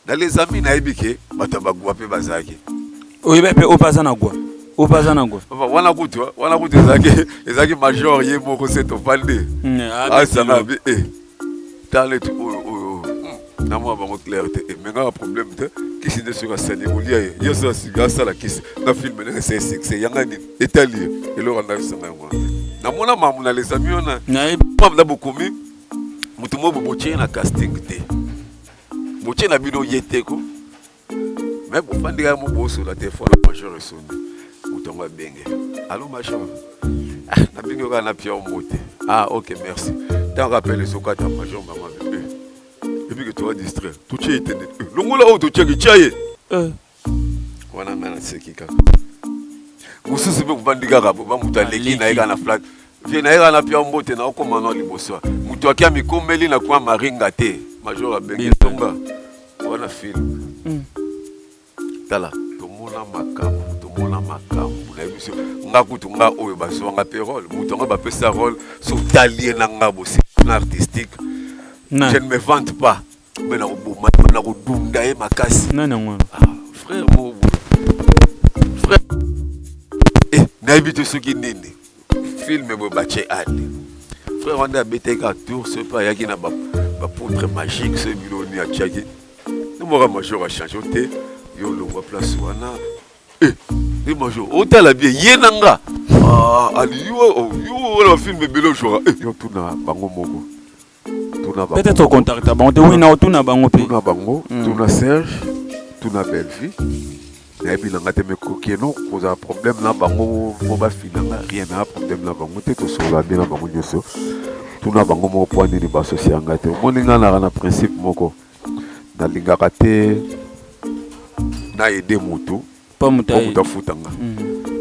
Na les amis na yebi ke bato ba gwa pe bazalaki. Oyeba pe oyo baza na gwa. Oyo baza na gwa. Papa wana kutu wana kutu ezalaki ezalaki major ye moko se topande. Mm, Asana bi eh. Tale tu oyo oyo. Hmm. Na mwa bango clair te. Eh, Menga problème te. Kisi nde soki asali kolia ye. Yo soki asiki asala kisi na film ndenge se succès yanga nini etali ye eloko andakisanga yango. Na mona mamu na les amis wana. Na ye. Papa na bokomi moto moko botie na casting te. Moche na bino ye te ko. Mais pour fandi ya mobo sur la téléphone major esoni. Mutongo benge. Allô major. Ah, na bino ka na pia mote. Ah, OK, merci. Tant rappel sur kata major maman. Et puis que tu vas distraire. Tu tiens éteint. Longola o tu tiens que tiens. Euh. wana ngai naseki kaka mosusu mpe kobandi kaka boba moto aleki na ye kaka na flat vie na ye kaka na pia mbote na okoma na liboso moto akia mikomeli na kwa maringa te major abengi ntonga wana film hmm. tala tomona makambo tomona makambo na biso nga kutu nga oyo bazwa nga mpe role moto yango bapesa role sotali ye na nga bosepana artistique je ne me vante pas mais na koboma ye na kodunda ye makasi nani yango wana ah, frère bobo frère eh, nayebi te soki nini filme boye batye ale frère wana abetaki ka tour soki mpe ayaki na bapoudre magique soki bino nini atyaki nomaka major achange te yo olongwa place wana eh, e major otala bie ye na nga ah, ali yo wana oh, bafilme ebele ojora eh, yo tuna bango moko tuna bango peut-être ocontacta bango te oui na otuna bango mpe tuna bango hmm. tuna serge tuna bellevue nayebi na ngai te mekokeno kozala problème na bango mpo bafina nga rien na problème na bango te tosolola nde na bango nyonso tuna bango moko mpo nini basosi ya ngai te omoni ngai naka na principe moko nalingaka te na aide motu mpo moto afuta nga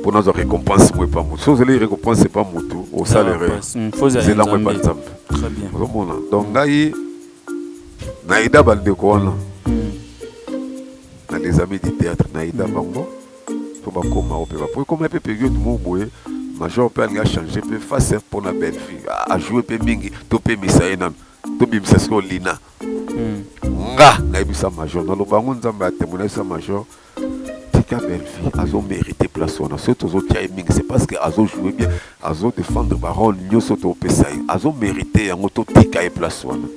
mpo nazwa récompense mo epa motu so ozali récompense epa motu osalere zelango epa nzambe ozomona donc ngai na eda bandeko wana na les amis du théâtre na eda bango mpo bakoma oyo mpe bapo ekoma mpe periode moko boye major mpe alingi achange mpe face mpo na belle fille ajoue mpe mingi topemisa ye nano tobimisa sikoyo lina nga nayebisa major naloba yango nzambe atemoinayebisa major tika Bellevue azo merite place wana soki tozotia ye mingi c'est parce que azo joue bien azo défendre barole nyonso topesa ye azo merite yango totika ye place wana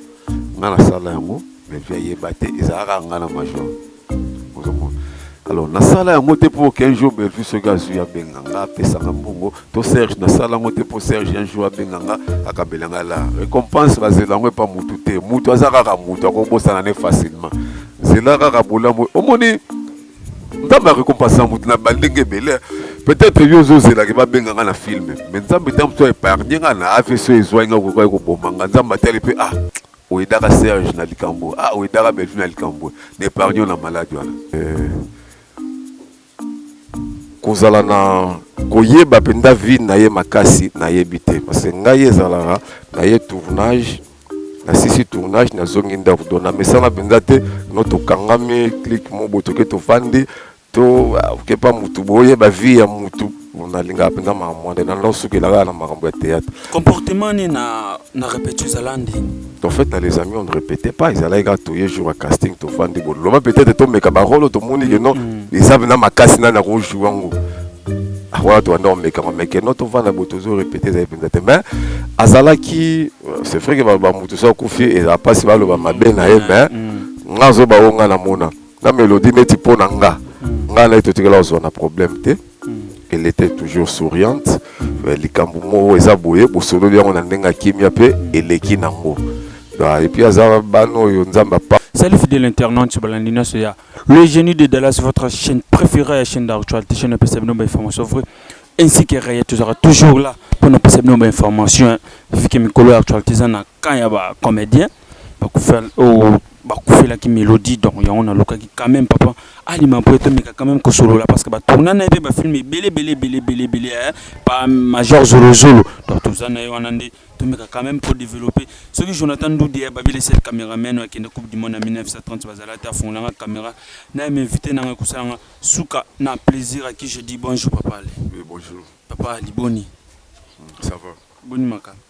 nga nasala yango Bellevue ayeba te ezalaka nga na major ozomona alors nasala yango te mpo 15 jours Bellevue soki azwi abenga nga apesanga mbongo to serge nasala yango te mpo serge un jour abenga nga akabela nga la récompense bazela yango epa mutu te mutu aza kaka mutu akobosana ne facilement zela kaka bolamu omoni nzambe akokompasa moto na bandenge ebele peut-être yo ozozelaki babenga nga na filme mais nzambe ntango mosusu aepargne nga na avc ezwai nga kokaki koboma nga nzambe atali mpe ah oyedaka serge na likambo ah oyedaka bellevue na likambo na epargne na maladi wana eh. kozala na koyeba mpenza vie na ye makasi nayebi te parce que ngai ezalaka na ye tournage nasisi tournage nazongi ndako don namesana mpenza te no tokangami clike mobo toke tofandi to okepa motu boyeba vie ya motu nalingaka mpenza mama mwande na nao sukela kaka na makambo ya théâtre comportement ni na, na repetio ezala nde en fait na les amis on ne répétait pas ezalaki kaka toye jour ya casting tofandi boloba peut-être tomeka barolo tomoni ke non mm. eza na makasi nani akojoue yango ah, wana tobanda komekama meke no tovanda bo tozo répéte ezali mpenza te mais azalaki euh, c'est vrai ke bamoto so akufi ezala mpasi baloba mabe na ye mais mm. nga azoba oyo nga namona na melodi neti mpo na nga mm. nga naye totikala kozwa na problème te elle était toujours souriante mais likambo moko eza boye bosololi yango na ndenge ya kimia mpe eleki nango epuis aza bana oyo nzambe apa Salut fidèle internaute sur Balandi Naso ya Le Génie de Dallas, votre chaîne préférée, la chaîne d'actualité, chaîne de Sabino Information vraie, ainsi que Raya Tuzara, toujours là pour nous passer nos informations, vu que Mikolo actualité, ça n'a qu'un comédien. bakufela oh bakufelaki melodie donc yango nalukaki quand même papa alima po tomeka quand même kosolola parce que batourna na ye mpe bafilme ebele ebele ebele ebele ebele eh, pa major zolozolo donc toza na ye wana nde tomeka quand même kodeveloppe soki jonathan ndudi ya eh, babele set cameraman oyo akende coupe du monde na 1930 bazala te afungolanga camera na ye mainvite na ngai kosalanga suka na plaisir aki je dis bonjour papa ale oui, bonjour papa ali boni ça va boni makambo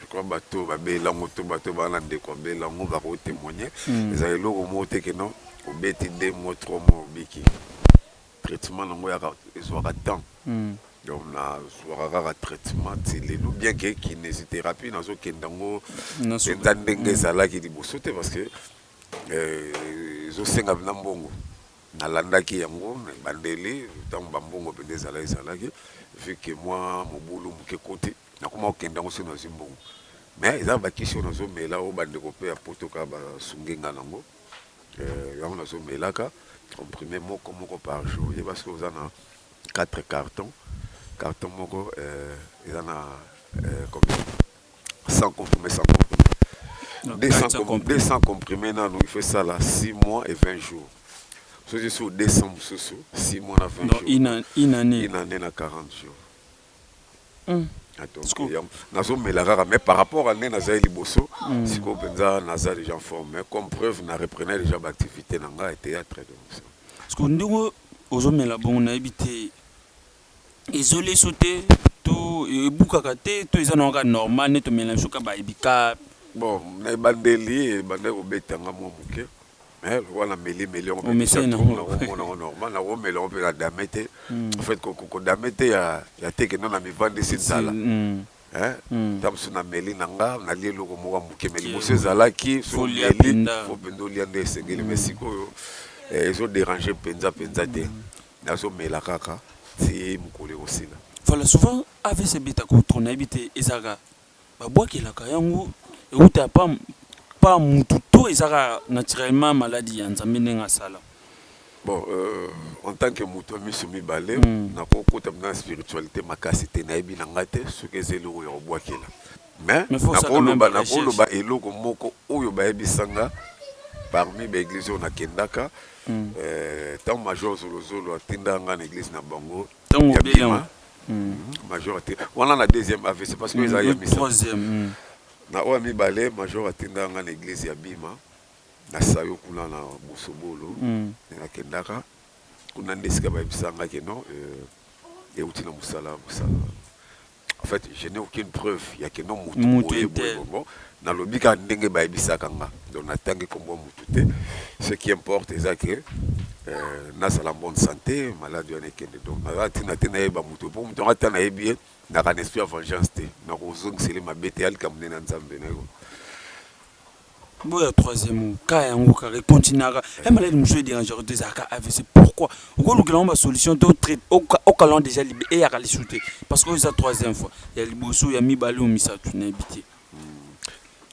Lokola bato oyo babeli yango to bato oyo baza na ndeko abeli yango bakoki kotemoigne, ezala eloko moko te que non obeti deux mois, trois mois obiki. Traitement na yango eyaka, ezuaka temps. Donc nazuaka kaka traitement ti lelo bien que kinesitherapie nazokende yango mpenza ndenge ezalaki liboso te parce que ezosenga mpenza mbongo. Nalandaki yango na ebandeli ntango bambongo mpenza ezalaki ezalaki vu que mwa mobulu moke ekoti. Nakoma kokende yango soki nazwi mbongo. Mais eza ba kisi oyo nazo mela oyo ba ndeko pe ya poto kaka ba sungi nga nango. Euh yango nazo melaka comprime moko moko par jour. Oyeba soki oza na 4 cartons, carton moko euh eza na euh combien? 100 comprime 100 comprime. 200 com 200 comprime nanu il faut esala 6 mois et 20 jours. Soki ozwi sous 200 mususu 6 mois na 20 jours. Donc une annee? Une annee na 40 jours. Mm. nazomela kaka mais par rapport à nde nazali liboso mm. sikoyo mpenza naza déjà en forme mais comme preuve na reprenais déjà baactivité na ngai ya théâtre sikoyo ndenge ozomela bongo nayebi te ezoleso te to ebukaka te to eza na kaka normal nde tomela biso kaka baebika bon na ebandeli ebandaki kobetanga mwa moke mais lokola na meli meli yango pe Omesani na ngo. nako mona ngo normal nako mela ngo pe na dame te en fait ko ko dame te ya ya teke non na mivandisi nzala hein tango mosusu na meli na nga na lie eloko moko ya moke mais liboso ezalaki soki Faut lia omeli mpenza. faut penza olia nde esengeli mais sikoyo eh, ezo deranger penza penza te nazo mela kaka ti mokolo ekosila Voilà souvent avc ebetaka ou trop nayebi te ezalaka Ba bwakelaka yango ewuta pa pa mutu to eza kaka naturellement maladi ya nzambe ndenge asala? Bon euh en tant que mutu ya misu mibale nako kota na spiritualite makasi te nayebi na nga te soki eza eloko ya kobwakela mais nako loba nako loba eloko moko oyo ba yebisa nga parmi ba eglise oyo na kendaka euh tangu major zolo zolo atinda nga na eglise na bango ya bima major ati wana na deuxième avc parce que eza ya misa na oyo ya mibale major atinda nga na eglise ya bima na sayo kuna na bosobolo nakendaka kuna nde esika bayebisa nga ke non euti na mosala mosala En fait, je n'ai aucune preuve ya keno mutu Mutu boye te. boye boye bon. Nalobi kaka ndenge bayebisaka nga. Donc natangi kombo ya mutu te. Ce qui importe eza que euh, nazala en bonne santé, malade wana ekende. Donc naza na tina te nayeba mutu po mutu yango ata nayebi ye naka na esprit ya vengeance te. Nakozongisela ye mabe te, ya likambo nde na Nzambe nayebi. Boya troisième cas yango kaka continuaka e maladi mosusu ederangeaka te ezalaka avc pourquoi okolukela yango basolution to traite okalan déjà libe eyaka lisu te parce que oyo eza troisième fois ya liboso ya mibale oyo misato nayebi te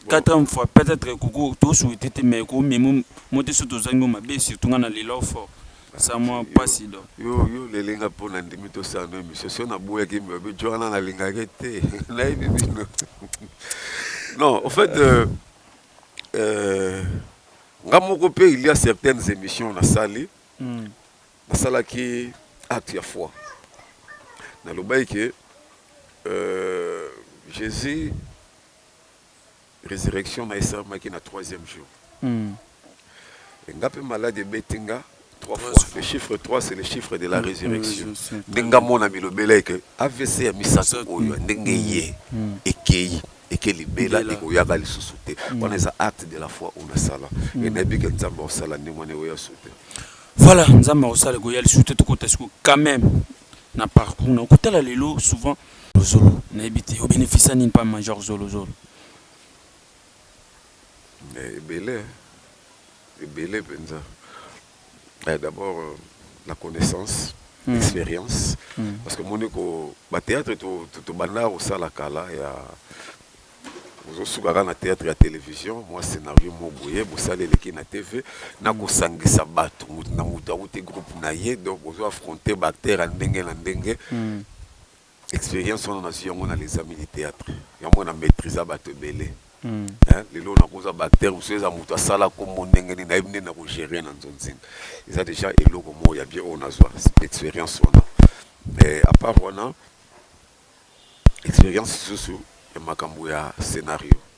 quatrième fois peut-être koko tosouete te mais komemo mote so tozangi yo mabe surtout nga na lela fort Eza mwa pasi donc. Yo yo leli nga po na ndimi to sala no emission so na boyaki mbi obi jo wana na lingaki te na yebi bino non au fait euh, euh, nga moko pe il y a certaines émissions na sali mm. na salaki acte ya foi na lobaki que euh, Jésus resurrection naye esalamaki na troisième jour et nga pe malade ebeti nga trois fois le chiffre 3 c'est le chiffre de la resurrection nde nga mona bilobela ye ke avc ya misato oyo ya ndenge eye ekeyi eke libela ekoyaka lisusu te wana eza acte de la foi oyo nasala et nayebi ke nzambe akosala ndenge wana ekoya lisusu te Voilà, Nzambe akosala ekoya lisusu te, tokota sikoyo quand même na parcours na yo kotala lelo souvent zolo nayebi te o beneficia nini pa major zolo zolo eh, ebele ebele mpenza eh, d'abord euh, la connaissance mm. expérience mm. parce que moni ko ba théâtre to, to, to banda kosala kala ya Bozo suka kaka na theatre ya television mua scenario moko boye bosali eleki na TV na kosangisa batu mutu na mutu awuti groupe na ye donc bozo affronter ba acteurs ya ndenge na ndenge experience wana nazwi yango na les amis du theatre yango na maitrisa batu ebele hein lelo nakoza ba acteurs mosusu eza mutu asala kombo ndenge nini nayebi ndenge na ko gerer na nzonzing eza dejà eloko moko ya bien oyo nazwa experience wana mais à part wana experience lisusu ya makambo ya scenario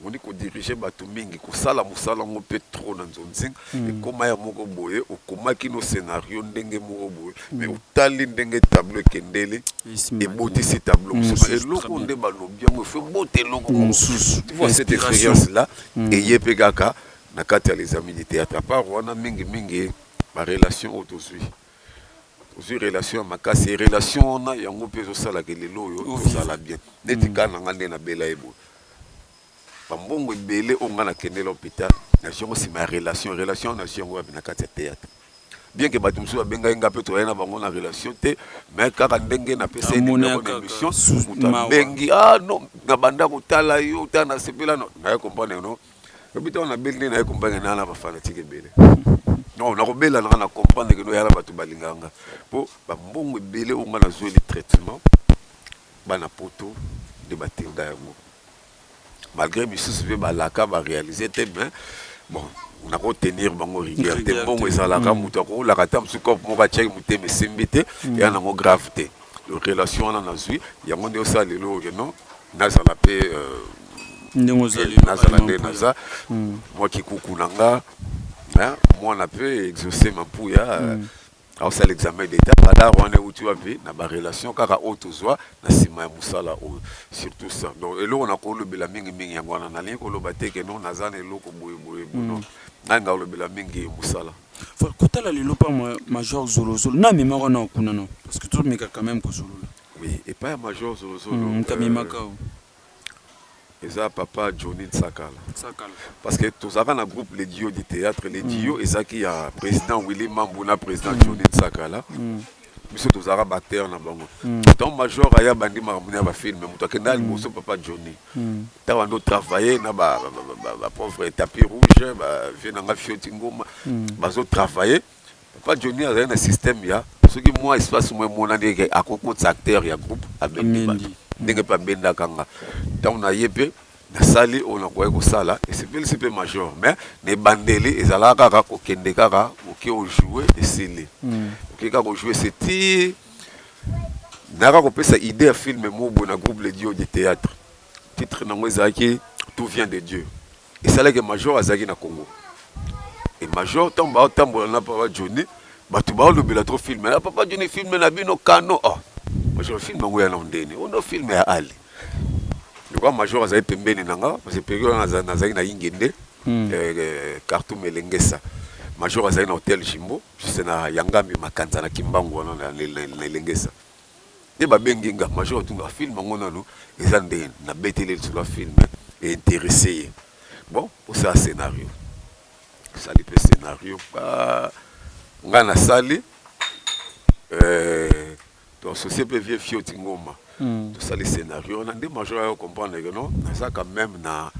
omoni ko diriger batu mingi kosala musala ngo pe trop na nzonzing mm. ekoma ya moko boye okomaki no scenario ndenge moko boye mm. mais otali ndenge tableau ekendeli ebotisi tableau mosusu mm. eloko nde balobi yango efo ebota eloko mm. mosusu tu vois cette expérience là mm. eye pe kaka na kati ya les amis du théâtre apart wana mingi mingi ba relation oyo tozwi Ozui relation ya makasi et relation wana yango pe ezo sala que lelo oyo tozala bien. Neti cas na nga nde na bela ye boye. Ba mbongo ebele oyo nga na kendela hopital na zui yango sima ya relation. Relation wana na zui yango wapi? Na kati ya theatre. Bien que batu mosusu ba bengaki nga pe tozalaki na bango na relation te mais kaka ndenge na pesa ye numero na emission mutu abengi ah non na banda ko tala yo tala na sepela na. Naye comprendre que non. Lobi ntango nabeli nde naye kombange naa na bafanatike ebele non nakobela nanga na comprendre keno yala bato balingaka nga mpo bambongo ebele oyo nga nazweli traitement bana poto nde batinda yango malgré misusu mpe balaka barealise te mais bon nakotenir bango rigueur te mbongo ezalaka mm. moto akokolaka ata mosusu cope moko atiaki motema esimbi te mm. eya nango grave te relation wana nazwi yango nde osala lelo oyo keno Nazala pe ndenge ozali yo nazala nde naza mua kikuku na nga muana pe exauce mampuya aosala examen d'etat radar wana ewuti wapi na ba relation kaka oyo tozua na sima ya musala oyo surtout ça donc eloko na kolobela mingi mingi yango wana nalingi koloba te que non naza na eloko boye boye non nanga olobela mingi musala kotala lelo pa major zolozolo na memaka nao kuna nao parce que tomeka quand meme kozolola Oui epai ya major zolo zolo Hum ta mimaka oh. Euh, eza papa Johnny Nsakala. Sakala. Parce que tozalaka na groupe les duos du théâtre les duos ezalaki ya président Willy Mambu na président Johnny Nsakala. biso tozalaka batere na bango ntango major aya bandi makambo na ya bafilme moto akenda liboso papa johnny ntango ando travaille na bapauvre tapi rouge bavie na nga fioti ngoma bazotravaille Papa Johnny azali na système ya soki mwa espace mwa emonani eke akokotisa acteur ya groupe abendi bato ndenge mpe abendaka nga ntango na ye mpe nasali oyo nakoki kosala esepelisi mpe major mais na ebandeli ezalaka kaka kokende kaka oke ojoue esili mm. oke kaka ojoue se ti nayaka kopesa idée ya filme mobwe na groupe le dio de théâtre titre nango ezalaki tout vient de dieu esalaki major azalaki na congo e major ntango baotambola na papa joni bato baolobela tro filme na papa joni filme na bino kano oh. major filme yango ya na ondeni ono filme ya ali lokwa major azali pembeni na nga parce peke wana nazalaki na ingende hmm. eh, eh, cartum elengesa major azali na hotel jimbo juste na yangambi makanza na kimbangu wana na elengesa nde ba bengi nga major tuna film yango nanu eza nde na beteli lisolo ya film e interesse ye bon osala scenario sali pe scenario ba nga na sali euh, to associé pe vieux fioti ngoma mm. to sali scenario na nde major ya comprendre que non naza quand même na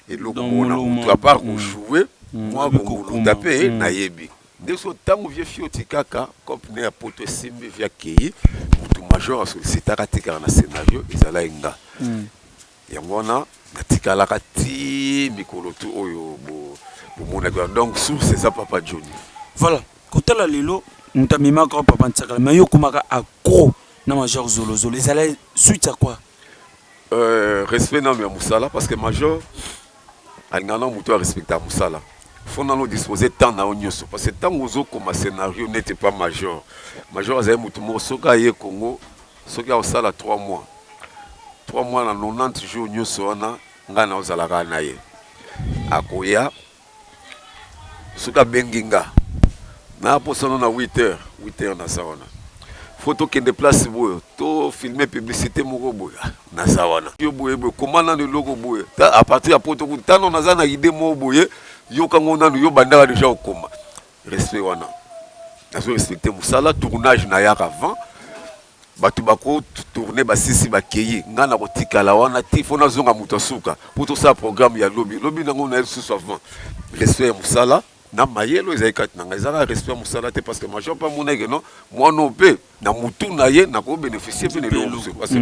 eloko mona mutu à part ko mm. jouer mm. moi ko kunda pe mm. nayebi Nde sikoyo tangu vieux Fio tikaka coop ne ya poto esimbi vieux akeyi mutu major a sollicitaka atikaka na scenario ezalaki nga yango wana natikalaka ti mikolo tu oyo bo bomonaki wana donc source eza papa Johnny. Voilà kotala lelo mutu amemaka yo papa ntsakala mais yo okomaka accro na major zolo zolo ezalaki suite ya quoi? Euh, respect nano ya musala parce que major alingaka nao moto ya respecta mosala fo nano dispose temps na yo nyonso parce que ntango ozokoma scénario nete pa major major azali moto moko soki aye congo soki akosala 3 mois 3 mois na 90 jours nyonso wana ngai naozalaka na ye akoya soki abengi nga na posana na 8 heures 8 heures naza wana fo tokende place boye to filme publicité moko boye naza wana yo boye boye koma nano eloko boye a partir ya poto kuna tano naza na idée moko boye yoka ngo nano yo bandaka deja kokoma respect wana nazo respecte mosala tournage nayaka avant Batu bako tourner basisi bakeyi nga nako tikala wana ti faut nazonga mutu ya suka po tosala programme ya lobi lobi nango naye lisusu avant respect ya musala na mayele oyo ezali kati na nga eza kaka respect ya musala te parce que major pe amonaki que non muana oyo pe na mutu na ye nako beneficier pe na eloko mosusu parce que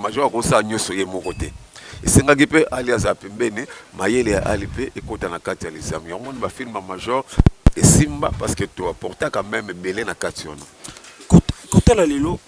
major ako sala nionso ye moko te esengaki pe ali azala pembeni mayele ya ali pe ekota na kati ya lizamu yango omoni ba film ya major esimba parce que to apportaka meme ebele na kati wana Kotala lelo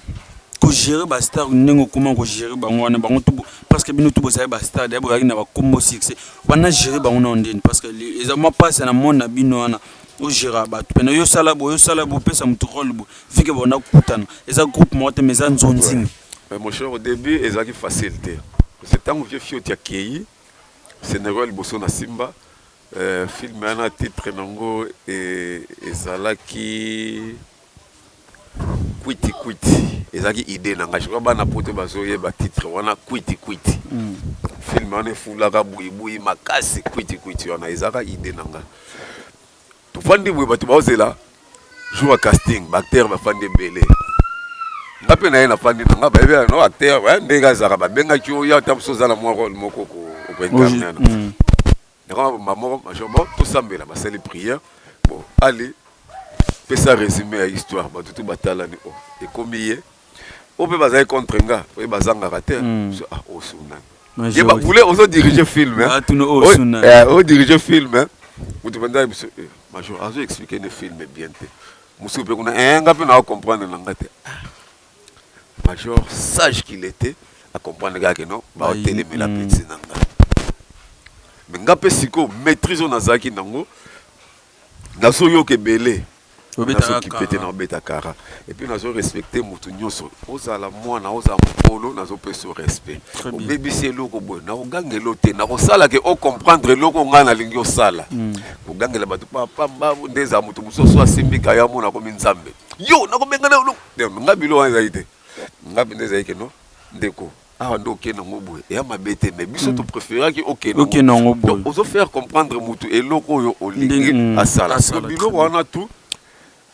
ko gerer ba stars ndenge okoma ko gerer bango wana bango tout parce que bino tout bozali ba stars d'ailleurs bozalaki na ba kombo succès wana gerer bango na yo ndeni parce que eza mwa pasi na monde na bino wana o gera batu pena yo osala boye osala boye opesa mutu role boye vu que banda kokutana eza groupe moko te mais eza nzonzing. Mais mon cher au début ezalaki facile te parce que tango vieux Fioti akeyi scenario ya liboso na Simba Film wana titre nango ezalaki kwiti kwiti ezalaki idee na ngai je crois bana poto bazoyeba titre wana kwiti kwiti mm. film wana efulaka buibui makasi kwiti kwiti wana ezalaka idee na ngai tofandi boye bato baozela jour ya casting baacteur bafandi ebele nga mpe na ye nafandi na nga bayebi no acteur ndenge azalaka babengaki oyo ata mosu oza na mwa role moko okoincarnana mm. Yango ba moko major moko tosambela basali prière bon ali pesa résumé ya histoire bato tout batalani o oh, ekomi ye oyo mpe bazali contre nga oye bazangaka te hmm. ah, osunani oh, ye babule ozo dirige film odirige film moto mpenza biso eh, major azo explike nde film bien te mosusu mpe kuna eh, nga mpe naa comprendre na nga te ah. Major sage qu'il etait a comprendre kaka non ba telemela mm. petit na nga mais nga pe siko maîtrise on azaki nango nazo yoka ebele nazo kipete na obeta kara et puis nazo respecter mutu nyonso ozala mwana ozala mokolo nazo pesa respect obebisi eloko boye nakogangela te nakosala ke o comprendre eloko ngai nalingi osala mm. kogangela bato papa mbabu nde ezala moto mosusu asimbi kaya mona komi nzambe yo nakobengana eloko Donc nga bilo wana ezali te nga mpenza ezali ke no ndeko awa nde okende yango boye eya mabe te mais biso to préféraki okende Okende yango boye. donc ozo faire comprendre mutu eloko oyo olingi Ndenge- mm. asala Asala, donc très biloko bien. wana tout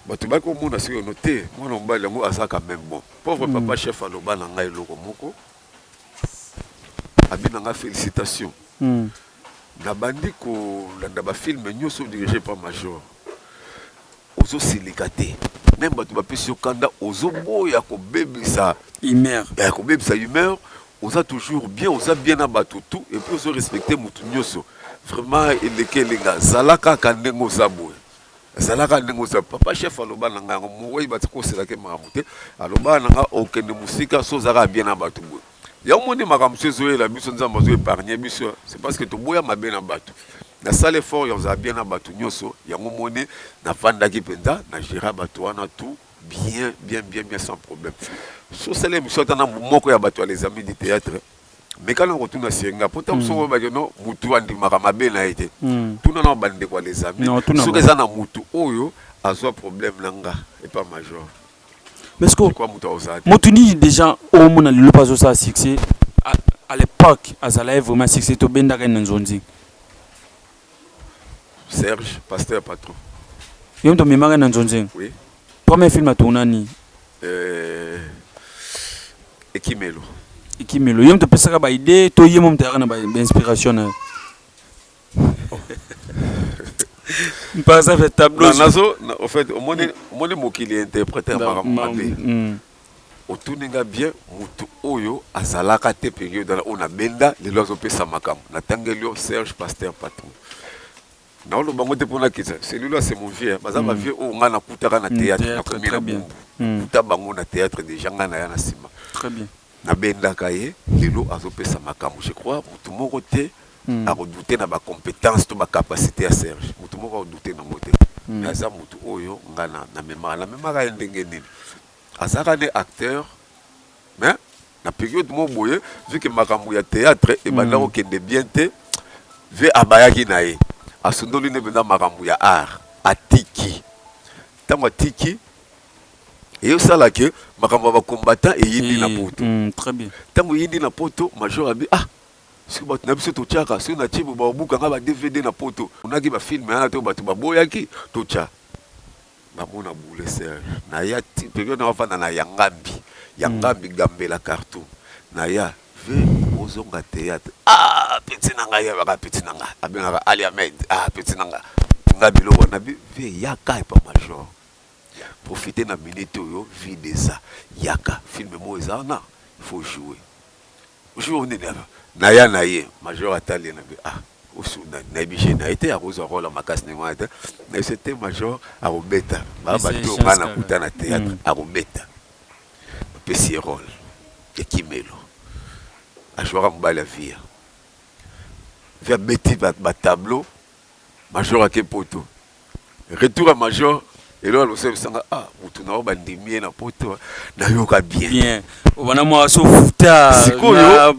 bato baki komona sikoyo no te mwana mobali yango aza quand même bon pauvre papa chef aloba na ngai eloko moko abi na ngai félicitation Mm. nabandi kolanda bafilme nyonso dirige par major Ozo silika te meme batu ba pesi yo kanda ozo boya ko bebisa humeur eh ko bebisa humeur oza toujours bien oza bien na batu tout et puis ozo respecte mutu nioso vraiment eleki elinga zala kaka ndenge oza boye zala kaka ndenge oza papa chef aloba na nga yango moweyi ba koselaka ye makambo te aloba na nga okende musika soki oza kaka bien na batu boye Yango moni makambo so ezoyela biso nzambe azo épargne biso c'est parce que toboya mabe na bato nasala effort ya kozala bien na bato nyonso yango moni nafandaki mpenza na géra bato wana tout bien bien bien bien sans problème sosala émission ata na moko ya bato ya les amis du théâtre meka na kotuna senga mpo ntango soko oyebaki no motu andimaka mabe na ye te tuna na bandeko ya les amis soki eza na motu oyo azwa problème na nga epa major Mais sikoyo Pourquoi moto akozala te? moto nini deja omona lelo mpe azosala succès à, à l'époque azala ye vraiment succès tobendaka ye na nzonzi Serge, pasteur patron. yo moto omemaka ye na nzonzi Oui. premier film atona nini Euh, Ekimelo. ekimelo ye moto opesaka baide to ye mo moto ayaka na ba- bainspiration na ye omoni mokili interprete makambo mabe mm. otuni nga bien motu oyo azalaka te periode oyo na benda lelo azopesa makambo natangeli yo serge pasteur patron naoloba ngo te mpo nakisa celui-là c'est mon vieux baza mm. bavieux oyo ngai nakutaka na mm, théâtre nakomi na bongo nakuta bango na théâtre déjà ngai naya na nsima Na bendaka ye lelo azo pesa makambu je crois mutu moko te ako doute na ba competence to ba capacite ya Serge mutu moko ako doute nango te mais aza mutu oyo nga na memaka na memaka ye ndenge nini azalaka nde acteur mais na periode moko boye vu que makambu ya theatre ebanda ko kende bien te vie abayaki na ye asundoli nde penza makambu ya art atiki tangu atiki Et au sala que makambo ba combattant et yindi na poto. Mm, très bien. Tango yindi na poto major abi ah soki bato na biso totyaka soki na tibo babukanga ba dvd na poto onaki bafilme yana to bato baboyaki totya namona boule serge naya ti periode na bafanda na yangambi yangambi mm. gambela cartoum naya ve ozonga théâtre ah peti na ngai yabaka peti na ngai abengaka ali amed ah peti na ngai nga biloko na bi ve yaka epa major Profiter na minute oyo vide eza yaka film moko eza wana il faut joue jour nini aka naya na ye major atali ye na bi ah osu na nayebi je na ye te akozwa role ya makasi ndenge wana te na biso te major akobeta ba Eza bato oyo chance ngai kaka. nakuta na théâtre akobeta bapesi ye role ya kimelo ajouaka mobali ya viya vi abeti ba ba tableau Major ake poto retour ya major elo alosela bisanga ah mutu na yo bandimi ye na poto nayoka bien bien obana mwa so futa sikoyo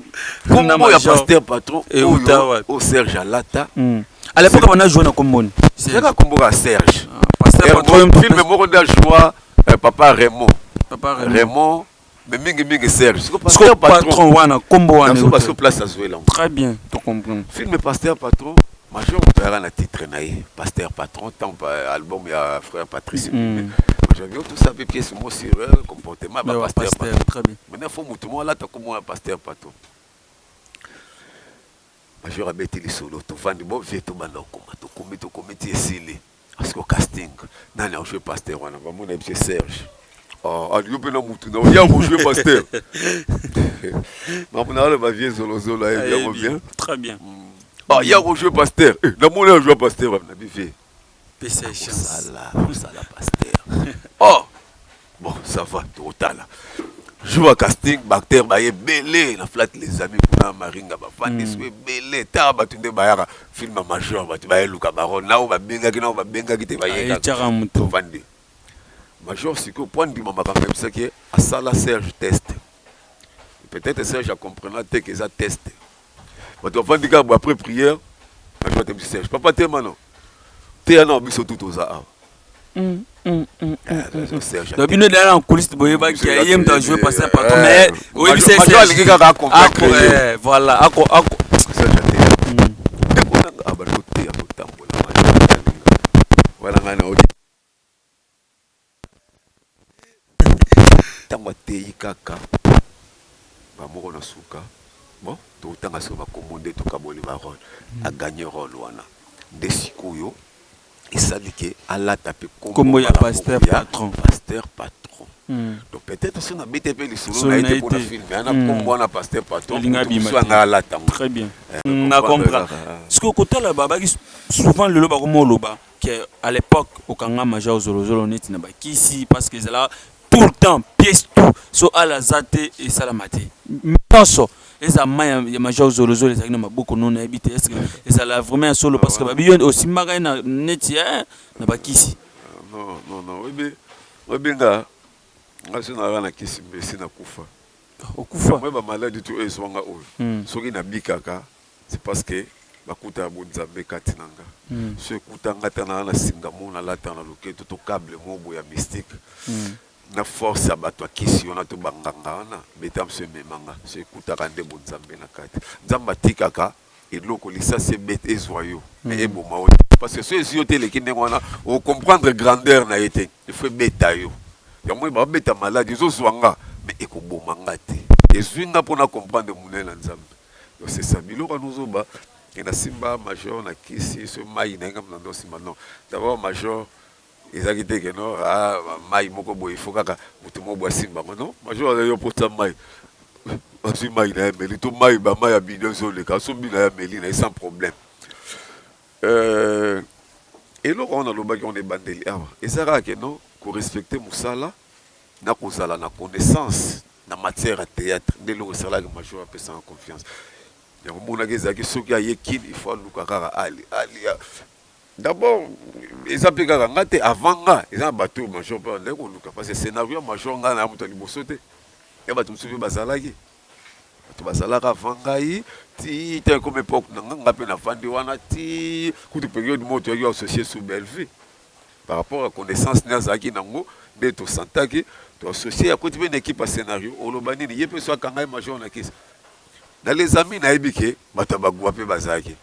kombo ya pasteur patron oyo o serge alata hmm. à l'époque bana joue na komboni seka kombo ka serge ah, pasteur patron film moko nda joie euh, papa raymond papa raymond mais mingi mingi serge sikoyo patron wana kombo wana parce que place azuela très bien to comprendre film pasteur patron major moto ayaka na titre na ye pasteur patron tant euh, album ya frère patrice mm. major yo tosa mpe pièce mo sur euh, comportement ba pasteur patron maintenant fo moto mo alata kombo ya pasteur patron major abeti lisolo tovandi bo vie tobanda kokoma tokomi tokomi ti esili Parce que casting nani a joué pasteur wana ba mona biso Serge Oh, alingi mpe na mutu na oya kojue pasteur makambo na aloba vie zolozolo ayebi yango bien très bien ah ya kojue pasteur eh, namoni ajua pasteur na bivie pesa chance sala pasteur oh Bon ça va tokotala jour ya casting baacteur baye ebele na flat les amis kuna maringa bafandi so ebele tala bato nde bayaka film ya major bato baye luka baron nao babengaki nao babengaki te Ayetyaka moto. bayekafandi major sikoyo mpo andima makambo yebisaki ye asala serge test peut-être serge acomprena te ke eza test bato bafandi kaka après prière bajwate biso serge papa tema no teya nao biso tu toza awa mm, mm, mm, eh, bino dala na couliste boyebaki ye moto ajoue passe eh, partout mais oyebisa alingi kaka eh, voilà ako ako Tango ateyi kaka ba moko na suka bon totanga siko ba kombo nde tokaboli ba role a gagne role wana nde sikoyo esali ke alata pe kombo ya pasteur patron pasteur patron donc peut être soki nabeti ye pe lisolo na ye te pona film mais na kombo wana pasteur patron mutu mosusu anga alata ngo très bien na comprend sikoyo kotala babaki souvent lelo bakoma oloba que à l'epoque okanga major zolozolo neti na bakisi parce que ezala tout le temps pièce tout so ala aza te esalama te nyonso eza mai ya, ya major zolozolo ezalaki na maboko no nayebi te eske ezala vraiment ya solo parce que babi yo osimbaka ye na neti eh, na bakisi non non non oyebi oyebi nga nga so nazalaka na kisi mbesi na kufa okufa moi bamaladi tu oyo ezwanga oyo soki nabikaka C'est parce que na kuta ya bo nzambe kati na nga so ekuta nga ta na na singa mo na lata na loketo to cable mo bo ya mystique na force ya bato ya kisi wana to ba nganga wana beta mso emema nga so ekutaka nde bo nzambe na kati nzambe atikaka eloko lisasi ebeta ezwa yo mais eboma yo te parce que so ezwi yo te eleki ndenge wana o comprendre grandeur na ye te il faut ebeta yo yango oyo babeta malade ezozwa nga mais ekoboma nga te ezwi nga mpo na comprendre monene na nzambe Non c'est ça biloko ya nozoba et na simba major na kisi so mayi na enga na ndo simba non d'abord major ezaki te que non ah mayi moko boye faut kaka mutu moko boye simba ngo non major aza yo pota mayi azwi mayi na ye meli to mayi ba mayi ya bidon ezoleka so bina ya meli na ye sans problème euh eloko wana lobaki on ebandeli awa eza kaka que non ko respecter musala na kozala na connaissance na matière ya theatre nde eloko esalaki major apesanga confiance yango monaki ezalaki soki aye kin il faut aluka kaka ali ali d'abord eza mpe kaka nga te avant nga eza na bato oyo major mpe bandaki koluka parce que scénario ya major nga na moto ya liboso te ya bato mosusu mpe bazalaki bato bazalaka avant ngai ti te comme époque na nga nga mpe navandi wana ti kutu periode moko toyaki associe sous bellevue par rapport ya connaissance nde azalaki nango nde to sentaki to associer akoti pe na equipe ya scenario oloba nini ye pe so akanga ye major na kisi na les amis nayebi ke bato ya bagua pe bazalaki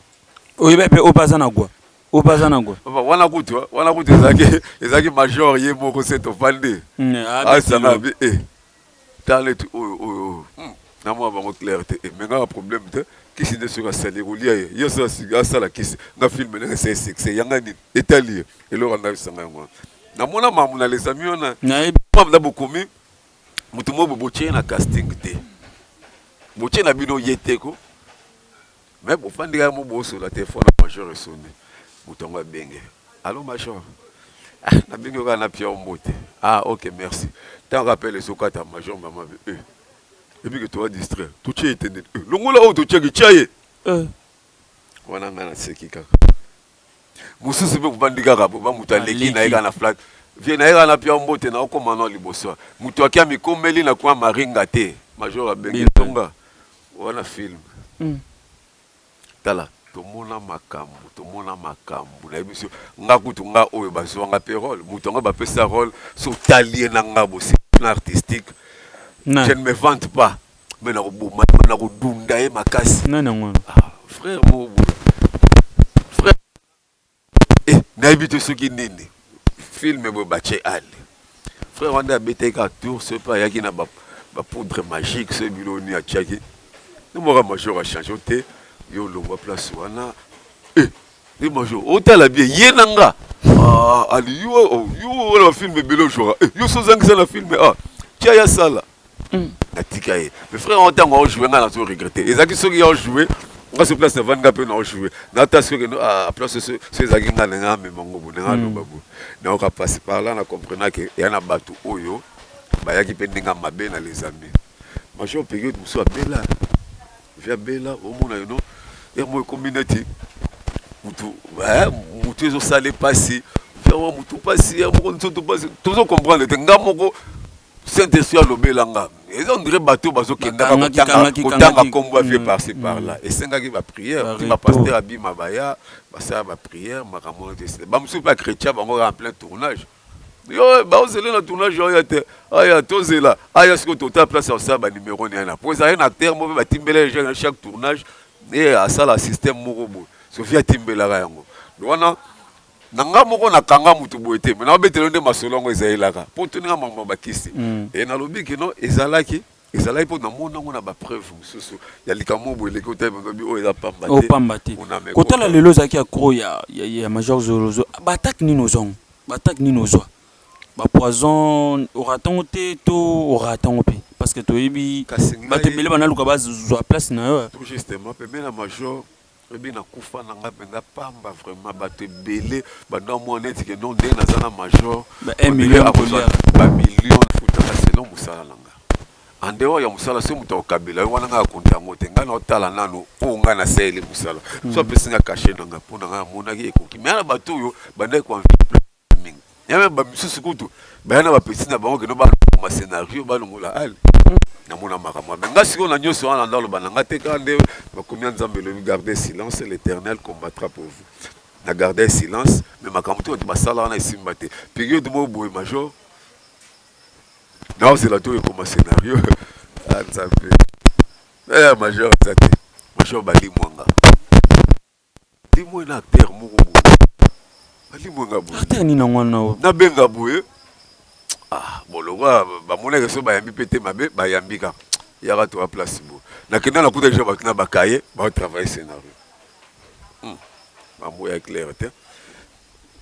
oyebi pe oyo baza na gua oyo baza na gua wana kutu wana kutu ezalaki ezalaki major ye moko se tovandi asana bi eh Tala neti oyo oyo oyo hum na mona bango claire te eh, mais nga na problème te kisi nde soki asali ekolia ye ye asala siki asala kisi nga film ndenge esali succès ya nga nini etali ye eloko anda bisanga yango wana na mona mamu na les amis wana nayebi mamu na bokomi mutu moko botie ye na casting te botie na bino ye te ko Mais bo fandi kaka bo solola telephone ya major e sonne mutu yango a benge allo major ah na bengi yo kaka na pia yo mbote ah ok merci tango kaka appel ezo kata major mama be eh ebi ke toa distraire to tie etendeli eh longola oyo to tiaki tia ye eh wana nga na seki kaka mususu pe ovandi kaka boye ba mutu aleki na ye kaka na flat vie na ye kaka na pia mbote na okoma na liboso mutu aki amikomeli na coin maringa te major abengi tonga wana film tala tomona makambu tomona makambu na biso nga kutu nga oyo bazua nga pe role mutu yango bapesa role so otali ye na nga bosi na artistique je ne me vante pas mais na koboma ye na kodunda ye makasi nani yango wana ah, frère moko boye frère eh, nayebi te soki nini filme boye batye ale frère wana abetaki kaka tour soki mpe ayaki na bapoudre magique soki bilo nini atyaki nomaka major achange te yo olongwa place wana eh, ye major otala bie ye na nga ah, ali yo oh, yo wana bafilme ebele ojwaka eh, yo so ozangisa na filme ah, tya ya sala Mm. natika ye mais frère yango ntango aojoue ngai nazo regrette ezalaki soki aojoue nga so place navandi nga mpe naojoue nata soki ah, place so ezalaki nga ndenge amema ngo bo ndenge aloba mm. bo nayoka mpasi par là na comprena ke ya na bato oyo bayaki mpe ndenge mabe na les amis major periode mosusu abela vi abela omona yono yango ekomi neti mutu eh, mutu ezosala mpasi yango mutu mpasi ya moko nzoto mpasi tozo comprendre te nga moko Saint Esprit alobela nga eza on dirait bateau bazo kendaka kotanga kotanga kombo ya vieux mm, par ci mm. par là esengaki ba prière ti ba pasteur abima baya basala ba prière makambo wana te ba mosusu mpe akretia bango en plein tournage yo baozela na tournage oyo te aya tozela aya sikoyo tota place ya kosala banimero niana mpo ezalaki na acteur moko mpe batimbela eja na chaque tournage e asala système moko boye sofi atimbelaka yango wana na nga moko na kanga mutu boye te mais na betelo nde masolo yango ezalelaka po tuni nga makambo ba kisi mm. et na lobi que non ezalaki ezalaki po na mona ngo na ba preuve mususu ya likambo boye leki otaye bobi oyo eza pamba te pamba te ko tala lelo ezalaki ya gros ya ya major zolozo ba attaque nini ozongo ba attaque nini ozwa ba poison oratango te to oratango pe parce que toyebi bato ebele banaluka bazwa place na yo tout justement pe mena major Lobi na kufa na nga penza pamba vraiment batu ebele banda omona neti ke non ndenge naza na major ebele akozwa ba million nafutaka selon mosala na nga en dehors ya mosala soki moto akokabela yo wana ngai akonta yango te ngai naotala nano oyo ngai nasaleli mosala so apesi nga kashe na nga mpo na ngai amonaki ekoki me na bato oyo bandaki koinvite mingi ya meme ba misusu kutu baya na ba petits na bango kino ba ma scenario ba longola ale na mona makambo mais nga sikoyo na nyoso wana nda loba na nga te kaka nde makomi ya nzambe elobi garder silence l'éternel combattra pour vous na garder silence mais makambo te bato basala wana esimba te periode moko boye major naozela to ekoma scenario nzambe eh major eza te major bali mwanga Temoin na acteur moko boye balimue nga boye acteur nini yango wana oyo nabenga boye ah bon lokola bamonaka soki bayambi mpe te mabe bayambi kaka yaka toya place boye nakenda nakuta deja bato na bakaye baotravaille scénario hmm. mambo ya claire te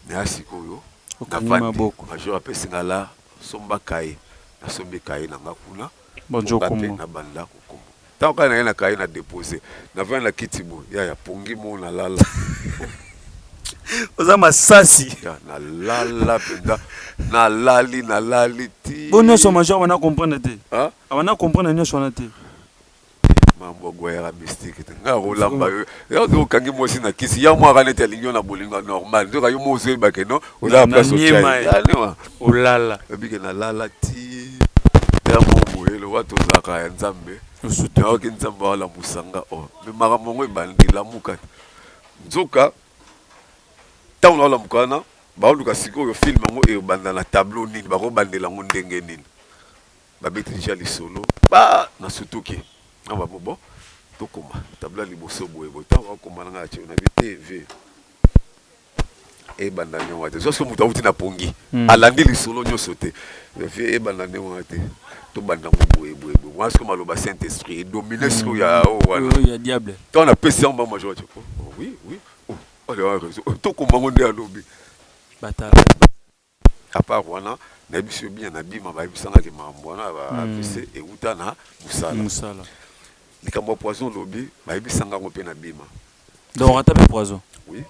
me ya sikoyo navandi major apesi nga la somba kaye nasombi kaye na nga kuna Bonjour Nga pe Kumbu. na banda ko kumbu tango kaka naye na kaye na depose na vandi na kiti boye yaya pongi moo na lala Oza masasi. Ya na lala penza na lali na lali tii. Bo nioso major abanda comprendre te. Hein? Abanda comprendre nioso wana te. Mambo guerra mystique te nga olamba yo yo ndio kangi mosi na kisi ya mwa kanete alingi na bolingo normal ndio kayo mozo yeba ke no oza place au chai alima olala bike na lala ti ya mo boyelo watu zaka ya nzambe osutu na oki nzambe wala musanga o oh. me maka mongo ebandi lamuka nzoka tango na lamuka wana baoluka sikoyo film yango ebanda na tableau nini bakobandela yango ndenge nini Ba beti dejà lisolo ba na sutuki na ba bo bon to koma tableau ya liboso boye boye tango ba koma na nga tse na bi te vieux e banda ndenge wana te zwa soki moto awuti na pongi a landi lisolo nionso te mais vieux e banda ndenge wana te to banda ngo boye boye boye wana soki maloba saint esprit e domine soki ya o wana ya diable tango na pesi yango ba ma joie oui oui oh allez wa raison to koma ngo nde alobi ba tala A part wana, nayebi soki bien na bima bayebisa nga ke makambo wana ya ba avc ewuta na musala. Likambo ya poison olobi bayebisa nga yango pe na bima. Donc ata pe poison? Oui,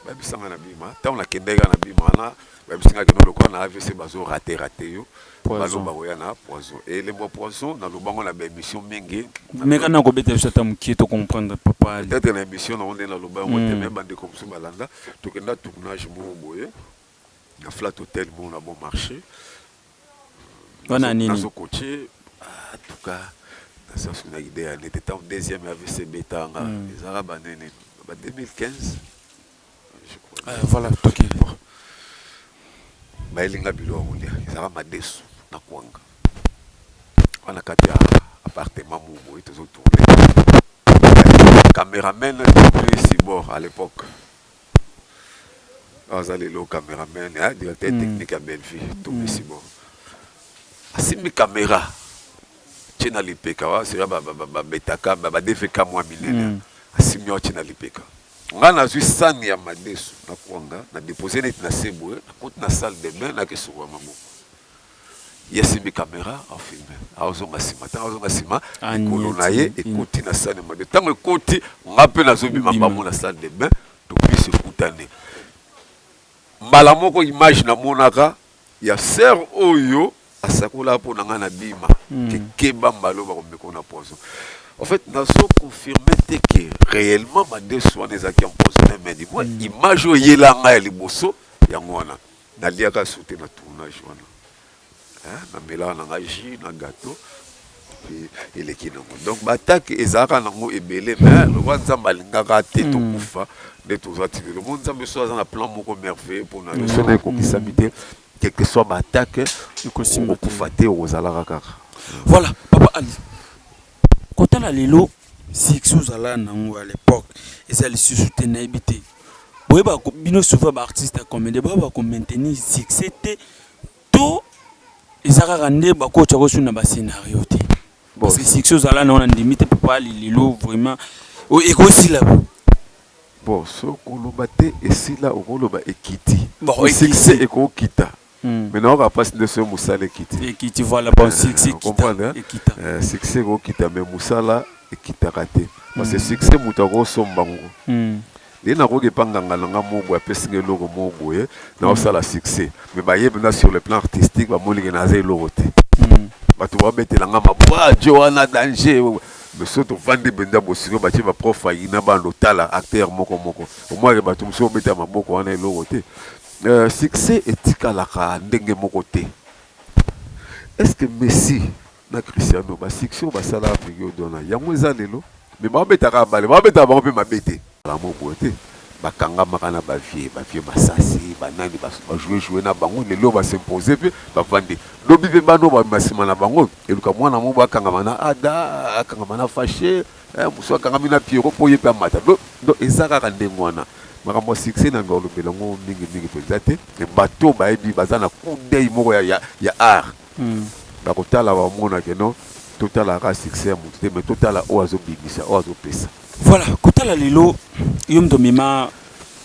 bayebisa nga na bima. Tango na kendeki kaka na bima wana, bayebisi nga ke non lokola na avc bazo rate rate yo, bazo bako ya na poison. Et elembo ya poison na loba ngo na ba emission mingi. Meka nanu ko betela biso ata mukie to comprendre papa. Peut etre na emission na ngo nde na loba yango te mais ba ndeko mosusu ba landa, to kenda tournage moko boye, na flat hotel bon na bon marché wana nini nazo coacher en tout cas na sasu na idea nete tant deuxième AVC betanga mm. ezala ba nene ba 2015 je crois ah, voilà toki bayelinga bilo ya kolia ezala madesu na kwanga wana kati ya appartement moko boye tozo tourne cameraman de prix bord à l'époque Aza lelo cameraman hein directeur technique ya Bellevue Tomi Simon asimbi camera atie na lipeka wa sika ba betaka ba DVK mua minene asimbi yango atie na lipeka nga nazui sani ya madesu na kuanga na depose neti na se boye nakoti na salle de bain nake sukola maboko Ye asimbi camera a filme azonga sima tango azonga sima likolo na ye ekoti na salle de bain tango ekoti nga mpe nazo bima bango na salle de bain to miso ekutani mbala moko image namonaka ya sœur oyo asakolaka mpo na ngai na bima kekeba mbala oyo bakomeko na poison en fait nazo confirme te ke réellement madesu wana ezalaki empoisonne mais du moins image oyo eyela ngai ya liboso yango wana Naliaka sote na tournage wana hein, na melaka na nga jus na gateau puis eleki nango donc ba attaque ezalaka nango ebele mais lokola nzambe alingaka te hmm. tokufa nde toza ti lelo mo nzambe so aza na plan moko merveilleux mpo na yo soki ekokisami te quelque soit ba attaque okokufa te okozalaka kaka voilà papa ali Kotala lelo succès ozalaka na yango à l'epoque eza lisusu te nayebi te. Boyeba bino souvent ba artistes ya comedien boyeba ko maintenir succès te to eza kaka nde bakotya ko na ba scenario te parce que succès ozalaka na yango nandimi te papa ali lelo vraiment ekosila bo bon soko oloba te esila okoloba ekiti succès ekokita. mais na yoka pasi nde soki musala ekiti ekiti voilà bon succès ekita ekita succès eko kita mais musala ekitaka te parce que succès mutu ako somba ngo nde na koki epa nganga na nga moko boye apesi nga eloko moko boye na osala succès mais ba yebi nga sur le plan artistique ba moni ke naza eloko te batu ba betela nga maboko ah djo wana danger mais soki tovandi mpenza bosiko batie baprof aina bana otala acteur moko moko omwake bato mosusu obeta maboko wana eloko te Succès etikalaka ndenge moko te est ce que Messi na Cristiano ba succès oyo basala periode wana yango eza lelo? Mais bao beta kaka balle, bao betaka bango pe mabe te. Yango boye te ba kangamaka na ba vieux, ba vieux Masasi, ba nani ba joue joue na bango lelo oyo ba s'imposer pe ba vandi lobi pe bana oyo ba bima sima na bango eluka mwana moko akangama na Ada, akangama na Fache, Eh musu akangami na Pierrot po yepe amata do do eza kaka ndenge wana makambo ya succès na ngalobela ngo mingi mingi penza te mais batu oyo bayebi baza na coup d'oeil moko ya ya, ya art mm. bakotala bamona ke non totala kaka succès ya mutu te mais totala oyo azobimisa oyo azopesa voilà kotala lelo yo mto mema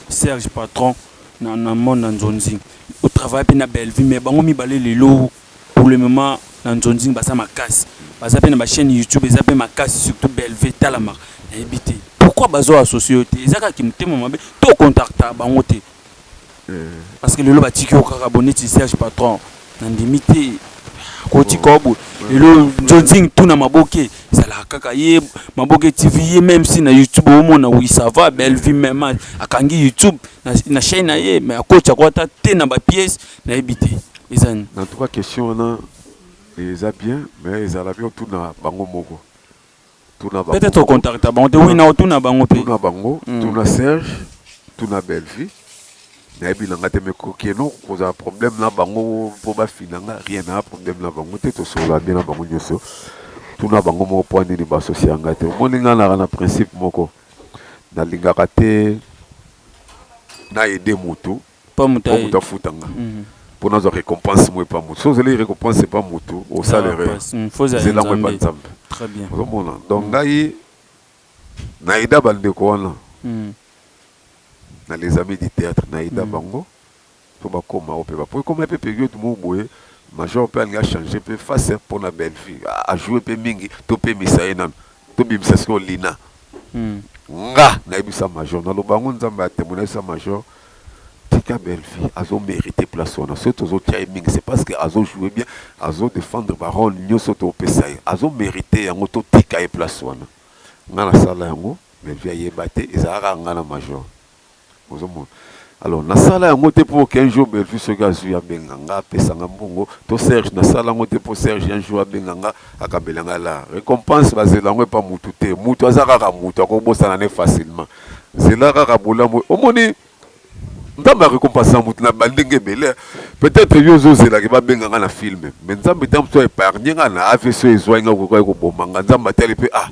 Serge patron na na mona nzonzi otravaille mpe na Bellevue mais bango mibale lelo Pour le moment na nzonzing baza makasi baza pe na ba chaine youtube eza pe makasi surtout belve etalama nayebi te pourquoi bazo associe yo te eza kaka kimutema mabe to ocontacta bango te parce que lelo batiki yo kaka bo neti serge patron na ndimi te koti kaka boye lelo nzonzing tuna maboke ezalaka kaka ye maboke tv ye meme si na youtube omona oui ça va belvie meme akangi youtube na, na chaine na ye mais akoti ako ata te na ba pièce Nayebi te eza nini. En tout cas question wana eza bien mais ezala bien otuna bango moko. Tuna bango. Peut-être o contacta bango te. Oui na otuna bango pe. Tuna bango, tuna Serge, tuna Bellevue. Nayebi na nga te mais kokeno kozala problème na bango po bafina nga rien na problème na bango te tosolola bien na bango nyonso. Tuna bango moko po nini ba associer nga te. Omoni nga naka na principe moko nalingaka te na aider mutu Mpo moto afuta nga. Mpo nazwa recompense moi epai ya moto. Soki ozeli recompense epai ya moto, osala erreur. Zela yango epai ya Nzambe. Ozo mona? Donc ngai na aida ba ndeko wana na les amis du theatre. Na aida bango mpo ba koma oyo mpe ba. Mpo ekomaki mpe periode moko boye, major mpe alingi a changer mpe face mpo na Bellevue. A jouer mpe mingi, to pemisa ye nanu. Tobimisa sikoyo Lina. Nga nayebisa major naloba yango nzambe a temoin nayebisa major tika Bellevue azo merite place wana soki tozo tia ye mingi c'est parce que azo jouer bien azo defendre ba role nioso to pesa ye azo merite yango to tika ye place wana nga na sala yango Bellevue ayeba te ezalaka nga na major Ozo mona? Alors na sala yango te po qu'un jour Bellevue soki azui abenga nga apesa nga mbongo to Serge na sala yango te po Serge un jour abenga nga akabela nga la recompense ba zela yango epa mutu te mutu aza kaka mutu ako bosana ne facilement zela kaka bolamu omoni Nzambe a recompensaka moto na bandenge ebele peut-être yo ozozela ke babenga nga na film mais Nzambe ntango mosusu a epargne nga na AVC ezwaki nga kokaki koboma nga Nzambe atali mpe ah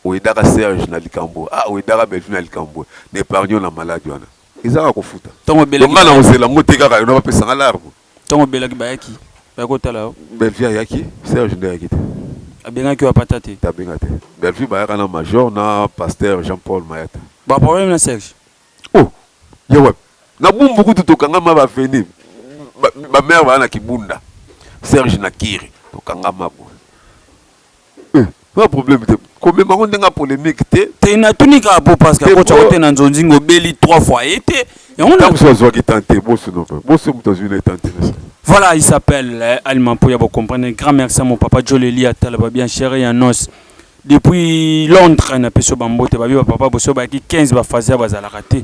Oedaka Serge na likambo ah oedaka Bellevue na likambo na epargne yo na malade wana eza kaka kofuta Tango donc obelaki nga na bayaki. kozela ngo te kaka yo na bapesa nga larme Tango obelaki bayaki bayaki kotala yo? Bellevue ayaki Serge nde ayaki te Abengaki yo apata te? te abenga te Bellevue bayaka na major na pasteur Jean Paul Mayata Ba problème na Serge? oh ya wapi na bumbu kutu tokangama ba avenue ba ba mère baya na kibunda Serge na kiri tokangama boye. Nga problème te komema ngo ndenge ya polemique te. Te natuni kaka po parce que akotisa ngo te na nzonzinga obeli trois fois ye te yango na. Tango mosusu azwaki temps te boso no pe boso moto azwi na ye temps te na se. Voilà il s'appelle eh, Alima Mpuya bo comprendre grand merci à mon papa Joleli ya tala ba bien chéri ya nos depuis Londres na peso ba mbote ba biba papa boso ba ki 15 ba fazia bazalaka te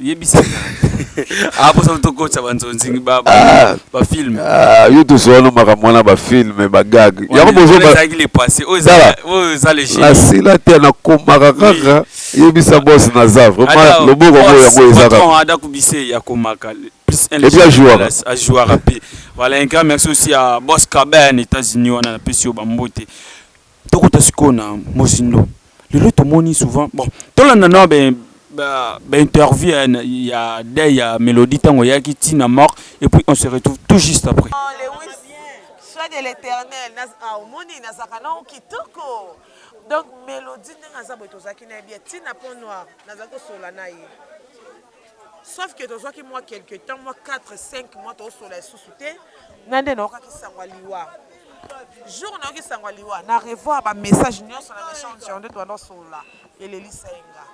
Yebisa nga. Aposa ah, tokotsa ba nzonzingi ba ba ah. film. Ah, yo to sono makambo wana ba film ba gag. Yango bozo ba. Ezaki le passé. Oyo za oyo za le jeu. La sila te na komaka kaka. Yebisa boss na za vraiment loboko ngo yango ezaka. Patron ada kubise ya komaka. Plus un. Et bien joueur. A joueur rapide. Voilà un grand merci aussi à Boss Kaben États-Unis wana na pesi yo ba mbote. Tokota sikoyo na mozindo. Lelo tomoni souvent bon tolanda na ba ba, ba interview ya, ya deuil ya Melodie tango yaki ti na mort et puis on se retrouve tout juste après. Oh Lewis, sois de l'Eternel. Ah, omoni nazaka na kitoko. Donc Melodie ndenge aza boye tozaki na ye bien ti na pont noir nazaki kosola na ye. sauf que tozwaki mwa quelque temps mwa 4 5 mois tozosola lisusu te nga nde naokaki sango ya liwa jour nayoki sango ya liwa na revoir bamessage nyonso na message yango nde tobanda osolola elelisa ye nga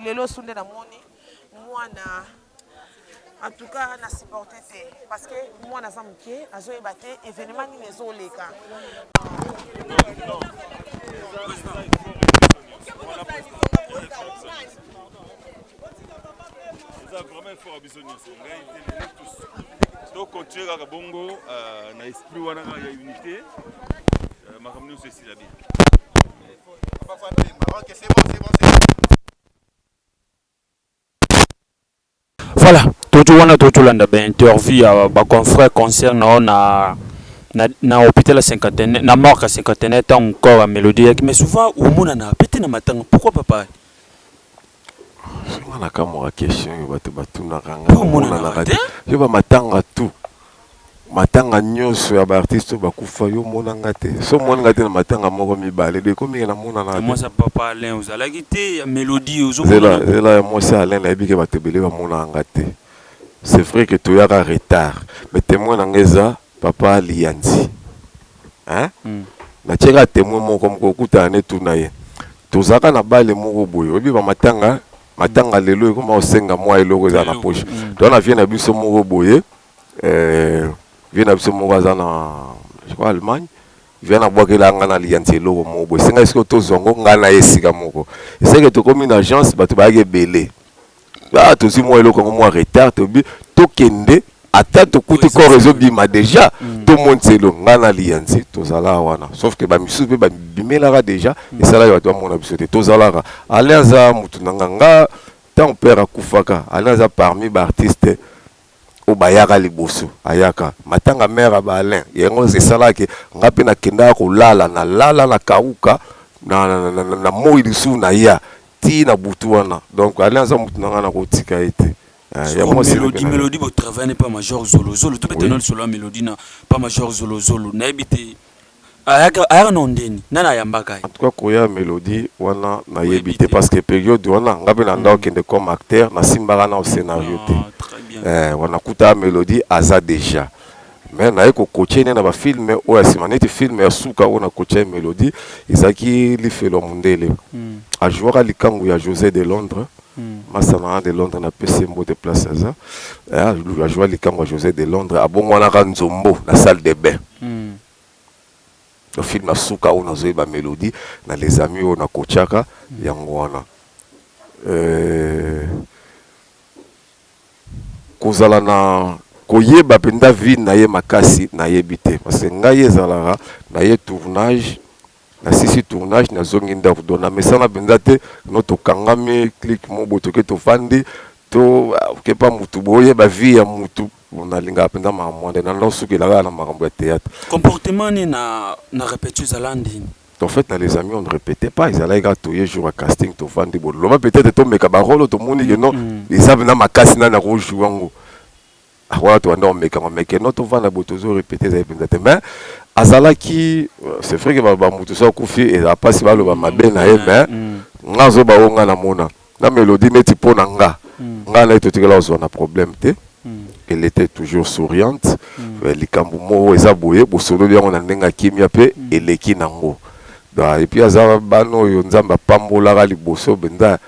lelo su nde namoni mwana en tout cas na supporte te parce que mwana aza moke azoyeba te événement nini ezoleka eza vraiment effort ya biso nyonso ngai te lelo tous tocontinue kaka bongo euh, na esprit wana kaka ya unité euh, makambo nyonso esila bien voilà totu wana totolanda bainterview ya baconfrère concert na na na, na hôpital ya cinquantenaire na morgue ya cinquantenaire ntango corps ya mélodie yaki mais souvent omonana mpe te na matanga pourquoi papa Nga na kamwaka question oyo bato batunaka nga Mpo omonanaka omonanaka te? te yo ba matanga tout matanga nyonso ya ba artiste oyo bakufa yo omona nga te so omoni nga te na matanga moko mibale donc ekomi ke Ya namonanaka mwasi te ya papa Alain ozalaki te ya melodie ozo zela monana zela ya mwasi ya Alain nayebi ke bato ebele bamonaka nga te c'est vrai ke toyaka retard mais temoin na nga eza papa liyanzi hein mm. na tiaka temoin moko moko okutana ne tuna ye tozaka na bale moko boye oyebi ba matanga matanga mm. lelo ekoma osenga mwa eloko eza na poche mm. to na vie na biso moko boye euh vie na biso moko aza na je crois Allemagne vie na bwakela nga na liyanzi eloko moko boye senga esiko tozwa ngo nga na ye esika moko eseke tokomi na agence bato bayaki ebele ah tozwi mwa eloko yango mwa retard tobi tokende ata tokuti corps ezobima déjà mm. tomonisa elo ngai na liyanzi tozalaka wana sauf ke bamisusu mpe babimelaka déjà mm. esalaki bato bamona biso te tozalaka ale aza motu na nganga ntango père akufaka ale aza parmi baartiste oyo bayaka liboso ayaka matanga mère ya ba Alain yango esalaka ke nga mpe nakendaka kolala nalala na kauka na, na, na, na, na moi lisusu naya ti na butu wana donc Alain aza motu na ngai nakotika ye te Ah, ya Soko mwasi na melodi bino. melodi botravaille ne pa major zolozolo tobeta Oui. nano lisolo ya melodi na pa major zolozolo nayebi te Ayaka ayaka na ondeni nani ayambaka ye. En tout cas koya melodie wana na yebi te parce que periode wana nga pe na ndako kende comme acteur na simbaka nao scenario te eh wana kuta melodie aza dejà mais na ye ko coacher ne na ba film oyo ya sima neti film ya suka oyo na coacher ye melodie ezalaki lifelo ya mundele a jouaka likangu ya Jose de Londres Masta na nga de Londres na pesi ye mbote place aza. A joua likambu ya Jose de Londres, a bonguanaka nzombo na salle de bain. Donc film ya suka oyo nazo yeba melodie na les amis oyo na coachaka yango wana. Ko zala na ko yeba penza vie na ye makasi na yebi te parce que ngai ezalaka na ye tournage, Na sisi tournage na zongi ndaku donc na mesana penza te no to kangami clic mo bo toke to fandi to ke pa mutu bo yeba vie ya mutu na linga penza ma mwanda na no suki elaka na makambo ya theatre. Comportement ne na na repetition ezala ndini? En fait na les amis on ne repetait pas ezalaki kaka toye jour ya casting to fandi bo loba peut etre to meka ba role to moni ke no eza penza makasi nani ako joue yango. Wana tobanda komekama meke no tovanda boye tozo repete ezali mpenza te mais azalaki euh, c'est vrai que baloba moto so akufi ezala mpasi baloba mabe na ye mais nga azoba oyo nga namona na melodi neti mpo na nga nga na ye totikala kozwa na problème te elle était toujours souriante euh, likambo moko eza boye bosololi yango na ndenge ya kimia mpe eleki nango Da, et puis aza bana oyo nzambe apambolaka liboso mpenza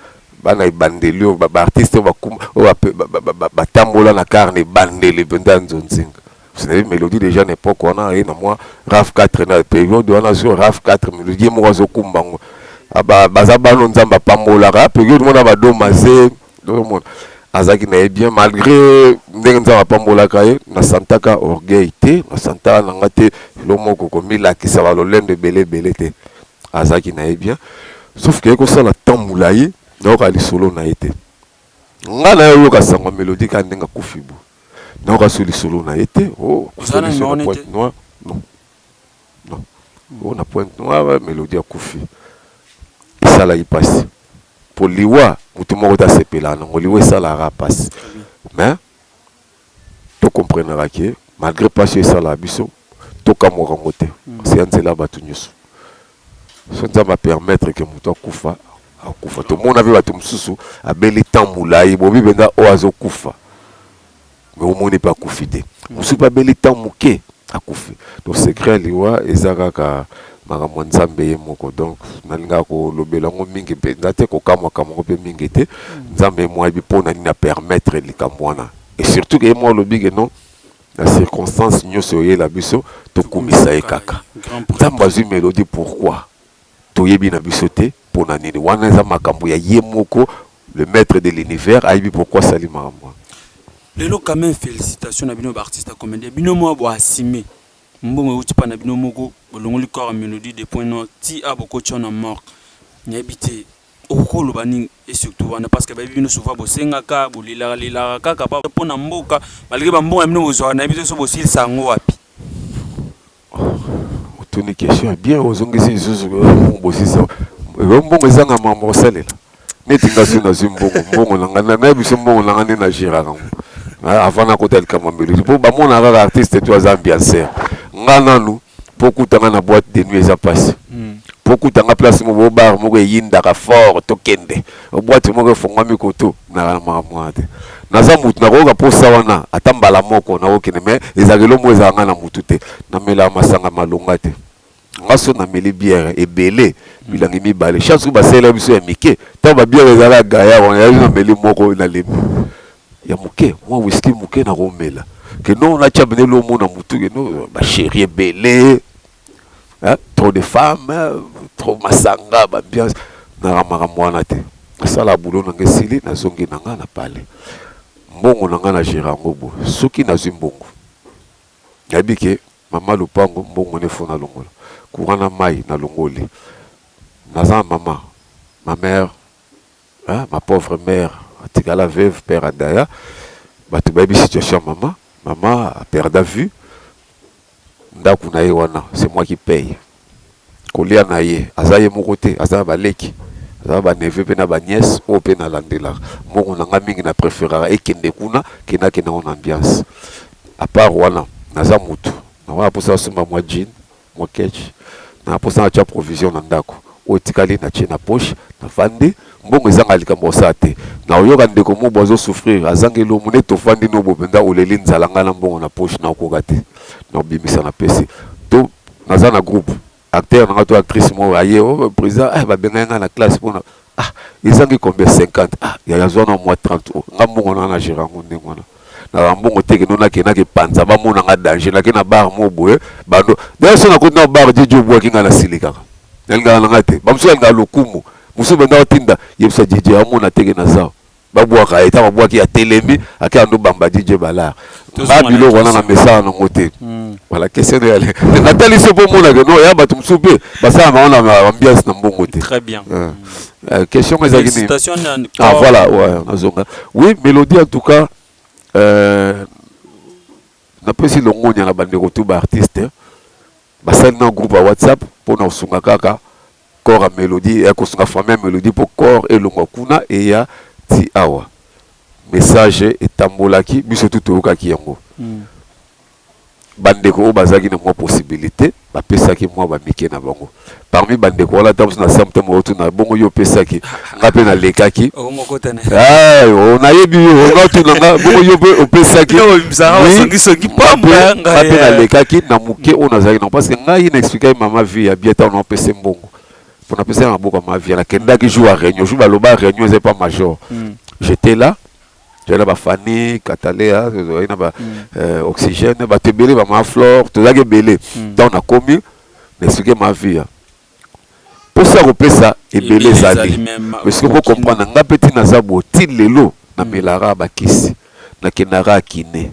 Bana ebandeli oyo ba artiste oyo ba ba tambola na car na ebandeli penza nzonzing parce que melodie dejà na epoque wana aye na mwa raf 4 na periode wana sur raf 4 melodie moko azo kumba ngo ba baza bano nzambe apambolaka periode mona ba doma ze donc mon azaki na ye bien malgré ndenge nzambe apambolaka ye na santaka orgueil te na santaka na nga te eloko moko komilakisa ba lolendo ebele ebele te Azalaki na ye bien sauf que ko sala temps mulayi na yoka lisolo na ye te. Nga na ye oyoka sango ya melodie kaka ndenge akufi boye. Na yoka lisusu lisolo na ye te. Oh akufi na biso na pointe noire. Non. Non. Oh na pointe noire melodie akufi. Esalaki pasi. Po liwa mutu moko te asepelaka nango. Liwa esalaka kaka pasi. Mais. to comprenaka ke malgre pasi oyo esalaka biso to kamwaka ngo te nase ya nzela batu nioso soki nzambe a permettre ke mutu akufa akufa tomona pe batu mususu abeli temps mulayi bobi penza oyo azo kufa mais omoni pe akufi te mususu pe abeli temps muke akufi donc secret ya liwa eza kaka makambo ya nzambe ye moko donc nalingaka kolobela yango mingi mpenza te kokamwa kamwa yango mpe mingi te mm. nzambe ye moko ayebi mpo na nini apermettre likambo wana et surtout ke ye moko alobi ke non na circonstance nyonso oyela biso tokumisa ye kaka nzambe azwi melodie pourquoi Toyebi na biso te pona nini wana eza makambu ya ye moko le maitre de l'univers ayebi pourquoi asali makambu wana. Lelo quand meme felicitations na bino ba artistes ya comedien bino moko bo assumer mbongo ewuti epa na bino moko bolongoli corps ya melodie de point noir tii awa bokoti awa na morgue nayebi te okoki koloba nini et surtout wana parce que bayebi bino souvent bosengaka bolelaka lelaka kaka pona mboka malgre ba mbongo na bino bozwaka nayebi te soki bosilisa yango wapi. Otuni question ya bien ozongisi lisusu bosisa yo mbongo ezanga mambo osalela neti nga soki nazwi mbongo mbongo na ngai nayebi biso mbongo na ngai nde na geraka yango avant nakota likambo ya melodi mpo bamona kaka artiste to aza ambiancer nga nanu mpo okuta nga na boite de nuit eza mpasi mpo okuta nga place moko bar moko eyindaka fort tokende Boite moko efongwami koto naka na makambo wana te. Naza mutu nakoyoka posa wana ata mbala moko nakokende mais ezalaka eloko moko ezalaka ngai na mutu te. Namelaka masanga malonga te. Nga soki nameli bière ebele milangi mibale chaque jour basalelaka biso ya mike tango ba bière ezalaka ya gaillard wana yango nameli moko nalembi ya muke mua whisky muke nakomela que non natia bene eloko moko na mutu que non ba cherie ebele hein? trop de femmes trop masanga ba ambiance naka makambo wana te nasala boulot na nga esili nazongi na nga na palais mbongo na nga na gere yango bo soki nazwi mbongo nayebi ke mama lopango mbongo ne fo nalongola courant na mai nalongoli naza na mama ma mère hein? ma pauvre mère atikala veuve père adaya bato bayebi situation ya mama mama aperda vue Ndaku na ye wana c'est moi qui paye kolia na ye aza ye moko te aza na ba leki aza na ba neveux pe na ba nièce oyo pe na landelaka mbongo na nga mingi na preferaka ekende kuna que na kende yango na ambiance à part wana naza mutu nako na posa na somba mua jean mua ketch na posa na tia provision na ndaku oyo etikali na tie na poche na vandi Mbongo ezanga likambo ya kosala te na oyoka ndeko mobo azo souffrir azangi elomo neti ofandi no bo penza oleli nzala nga na mbongo na poche nao koka te nao bimisa na pesi to naza na groupe acteur nanga to actrice moko aye oh, president eh, babengaki nga na classe mpo na ah ezangi combien 50 ah yaya zwana mwa 30 oh, nga mbongo nanga na gera yango ndenge wana na ba mbongo te kino na kena ke panza ba mona nga danger na kena bar mo boye bando d'ailleurs sona ko na bar jeje obwa kinga na silika na linga na ngate ba musu nga lokumu musu benda otinda yebisa jeje amona te ke na zao ba bwa ka eta ba bwa ki ya telemi ake ando bamba jeje bala ba bilo wana na mesa na ngote hmm. voilà question de aller na tali se po mona ke no ya ba musu pe ba sa ma ona ambiance na mbongo te très bien euh. hmm. Euh, question que ezalaki nini ah voilà ouais nazonga oui mélodie en tout cas euh, napesi longonya na bandeko tu baartiste hein. basali na groupe ya whatsapp mpo na kosunga kaka corps ya mélodie ya kosunga famille ya mélodie mpo corps elongwa kuna eya ti awa message etambolaki biso tu toyokaki yango mm. bandeko oyo bazalaki na mwa possibilite bapesaki mwa bamike na bango parmi bandeko wana ntango mosusu na septembre okotuna bongo yo opesaki nga mpe nalekaki nayebi yo onatuna nga bongo yo mpe opesaki nga mpe nalekaki na moke oyo nazalaki nango parce que ngai na explikaki mama vie ya bie ntango naopese mbongo mpo napesaki na maboko ya mavie nakendaki jour ya réunion jour baloba réunion eza epa major j'étais là toyaki na bafani katalea tozalaki na ba euh, oxygène bato ebele bama flore tozalaki ebele ntango nakomi na explike ma vie ya mposa ya kopesa ebele ezali mais soki okokomprendre ngai mpe ntina aza boye ti lelo na melara bakisi nakendaka kine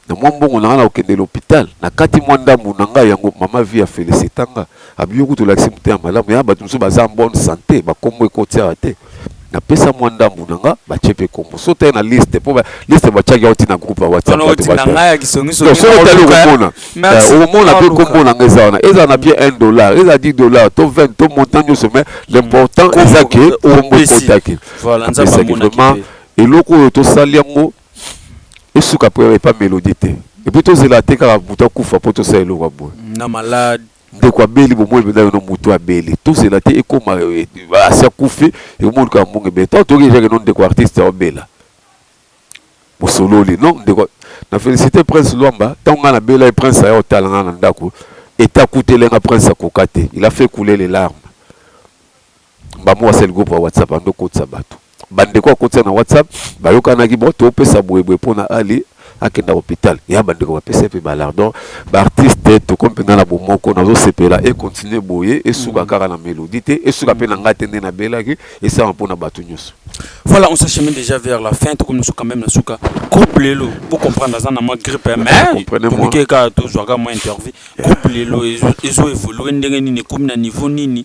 na mwa mbongo na nga na kokende lopital na kati mwa ndambu na nga yango mama vie ya felicita nga abiyo kutu olakisi motema malamu ya bato mosusu baza en bonne sante bakombo ekotiaka te napesa mwa ndambu na nga batie mpe kombo so te na liste mpo liste batiaki yao ntina groupe ya whatsapp otali okomona okomona mpe kombo na nga eza wana ezala na bie 1 dollar ezala 10 dollar to 20 to montant nyonso mais l'important eza ke kombo ekotaki apesaki vraiment eloko oyo tosali yango esuka po epa melodie te epuis tozela te kaka mutu akufa po tosala eloko ya boye na malade ndeko abeli bomoni mpenza yo no mutu abeli tozela te ekoma eh, eh, asi akufi ekomoni kaka mbongo ebele ntango toyoki ejake no ndeko artiste aobela bosololi no ndeko na félicité prince lwamba ntango ngai nabela ye prince aya otala ngai na ndako eta akutele nga prince akoka te il a fait couler les larmes Mbambu asali groupe ya WhatsApp ando kotisa batu. Ba ndeko akotisa na WhatsApp bayokanaki bon topesa boye boye pona Ali akenda hopital. Ya ba ndeko bapesa ye pe ba lardon. Ba artistes tokomi penza na bomoko nazo sepela e continuer boye esuka kaka na Melodie te esuka pe na ngai te nde nabelaki esalama pona batu nioso. Voilà on s'achemine dejà vers la fin tokomi na suka meme na suka. Groupe Lelo bo comprendre aza na mwa grippe mais toluki ye kaka tozua kaka mwa intervie. Groupe Lelo ezo evoluer ndenge nini ekomi na niveau nini?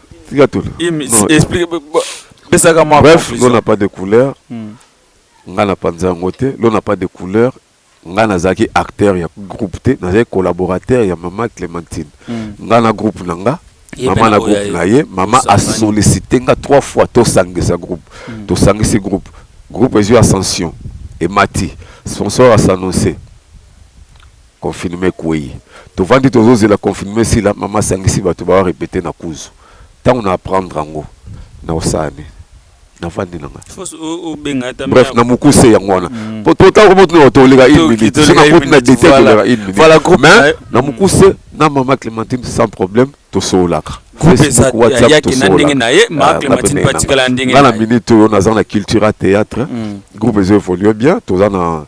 tika tolo pesaka mwa bref l'eau n'a pas de couleur hmm. nga na panza yango te l'eau n'a pas de couleur nga nazalaki acteur ya groupe te nazalaki collaborateur ya mama clémentine hmm. nga na groupe na nga mama na groupe na ye mama asollicite nga trois fois tosangisa groupe hmm. tosangisi groupe groupe ezwi ascension emati sponsor asanonse Confinement ekueyi tovandi tozo zela confinement esila maman asangisi batu ba repeter na kuzu tangu na apprendre yango nako sala nini navandi na nga bref na mukuse yango wana mm. po totala komo tuna bato oleka une minute soki nakoti na detail toleka une minute mais na mukuse na maman clementine sans problème tosololaka yaki na ndenge na ye ma ah, clementine mpe atikala ndenge nga na minute oyo naza na culture ya théâtre mm. groupe ezo évolue bien toza na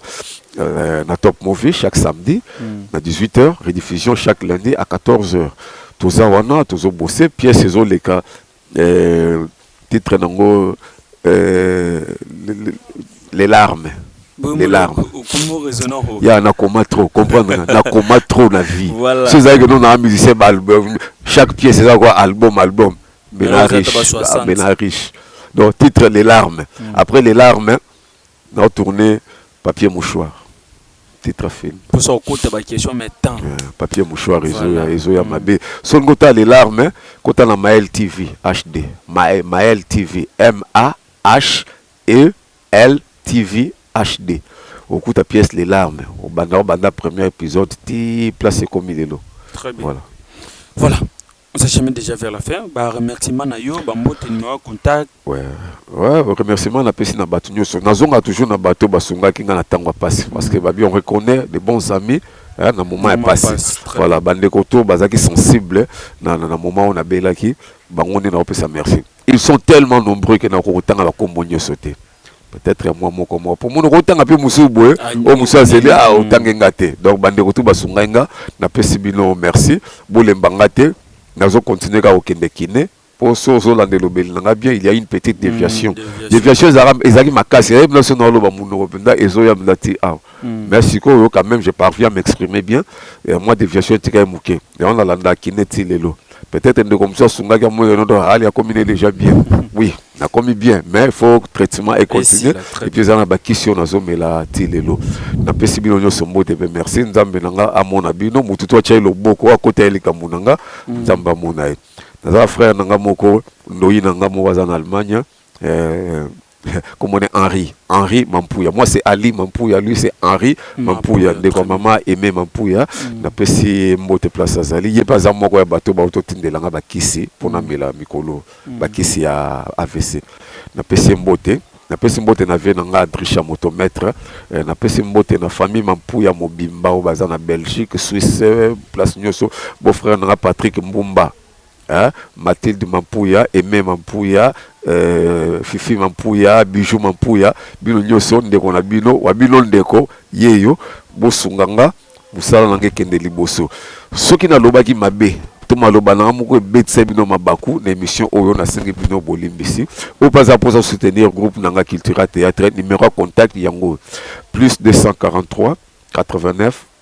euh, na top movie chaque samedi mm. na 18 heures rediffusion chaque lundi à 14 heures toza wana tozobose pièce ezoleka Titre nango les larmes les larmes ya na koma trop comprendre na koma trop na vie voilà. so ezalaki no na musicien ba album chaque pièce eza quoi album album mais na riche mais na riche donc titre les larmes mm. après les larmes Nao tourner papier mouchoir titre ya film. Posa okota ba question mais temps. Papier mouchoir ezoya ezoya mabe soki olingi otala les larmes kota na Mael TV HD Mael TV MAHEL TV HD okokuta pièce les larmes obanda obanda premier episode ti place ekomi lelo voila. Voila. On s'est jamais déjà vers la fin. Ba remerciements na yo, ba mbote numéro ya contact. Ouais, ouais, remerciement na pesi na bato nyonso. Nazonga toujours na bato basungaki nga na tango ya pasi parce que babi on reconnaît des bons amis hein, na moment ya Maman pasi. passe, très Voilà, bande koto bazaki sensible na na, na moment on abelaki bango nde na opesa merci. ils sont tellement nombreux que na kokotanga ba kombo nyoso te peut-être ya mwa moko moko mpo monoko otanga mpe mosusu boye ah, oyo mosusu azeli a ah, mm. otange nga te donc bandeko tu basungai nga napesi bino merci bolemba nga te nazo continue kaka kokende kine mpo so ozolanda elobeli na nga bien il y a une petite mm, déviation déviation ezalaki makasi eyebi na so na oloba monoko mpenza ezoya mpenza ti awa mais sikoyo quand même je parviens à m'exprimer bien mwa déviation etikali moke Yango na landaki ne ti lelo. Peut-être ndeko mosusu asungaki amoni lelo donc hali akomi ne déjà bien. Oui, nakomi bien mais il faut traitement et continuer. Esila, très Et puis eza na bakisi oyo nazomela ti lelo. Napesi bino nyonso mbote pe merci. Nzambe na nga amona bino. Mutu to atia ye loboko akota ye likambo na nga. Nzambe amona ye. Naza na frère na nga moko ndoyi na nga moko aza na Allemagne. Eh, kombo ne henri henri mampuya moi c'est ali mampuya lui c'est henri mampuya ndeko ya mama aime mampuya mm. napesi ye mbote place azali ye mpe aza moko ya bato bauti otindela ngai bakisi mpo mm. namela mikolo mm. bakisi ya avc napesi ye mbote napesi mbote na vie na ngai adrisha moto maître eh, napesi mbote na famille mampuya mobimba oyo baza na belgique suisse place nyonso beau frère na ngai patrick mbumba hein Mathilde Mampuya, Aime Mampuya, euh, Fifi Mampuya, Bijou Mampuya, bino nyoso ndeko na bino, wa bino ndeko yeyo, bosunga nga musala na nga ekende liboso. Soki nalobaki mabe to maloba na nga moko ebetisa bino mabaku na emission oyo, nasengi bino bolimbisi. Oyo mpe aza mposa soutenir groupe na nga Cultura Theatre, numero ya contact yango oyo, plus 243 89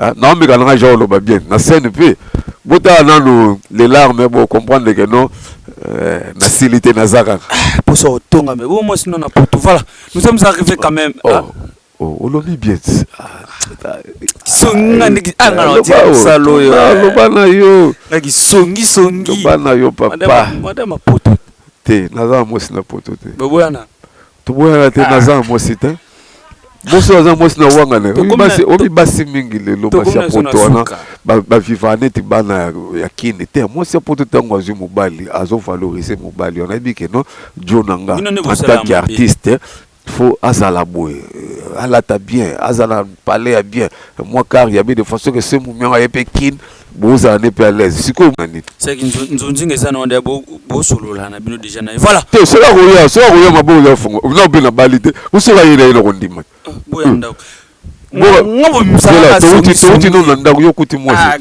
Eh, naombi kananga jean oloba bien na scène mpe botala nanu les larmes bo comprendre que non euh, nasili te naza kaka ah, poso otonga me bo mwasi no na poto voilà nous sommes arrivés quand même oh, ah. oh, olobi bien songa ndeki ah, anga na tika mosala oyo loba eh. na yo ndaki songi songi loba na yo papa madame poto te naza mwasi na poto te boboyana toboyana te naza na mwasi te mwasi oyo aza na mwasi na wangana omi basi mingi lelo basi ya poto wana baviva neti bana ya kini te mwasi ya poto ntango azwi mobali azovalorise mobali wana ayebi ke no jo na nga antaki artiste faut azala boye alata bien azala palais ya bien mwa kar ya bien de façon ke se momianga ye mpe kine bozala nde mpe alaise sikoyo nani seki nzonzinga eza na wanda bosolola na bino deja na ye voilà te soki akoya soki akoya maboko eza fungo na mpe nabali te osoki aye na ye na kondima ah, boya hmm. ndako touti no na ndako yo okuti mwasi ah,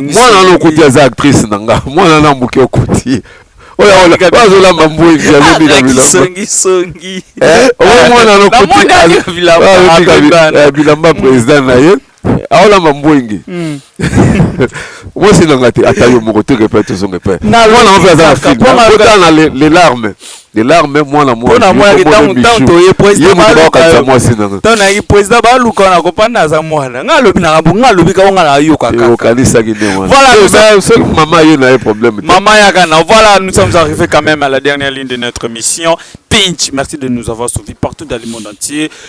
mwana wana okuti aza actrice na nga mwana wana moke okuti azolamba mbwengi azobika bilamba bilamba président na ye aolamba mbwenge hmm. mwasi nanga te ata yo moko toke pe tozonge pe mwana mpe aza na filmkota na les larmes les larmes mwana mwanaoyemotobaokanisa mwasi nangaonayi président baluka na kopanda aza mwana nga alobi nanga bo nga alobi kako nga nayokakaokanisaki nde mwanasel mama ye na ye problème mama yaka na voilà nous sommes arrivés quand même à la dernière ligne de notre émission pinch merci de nous avoir suivi partout dans le monde entier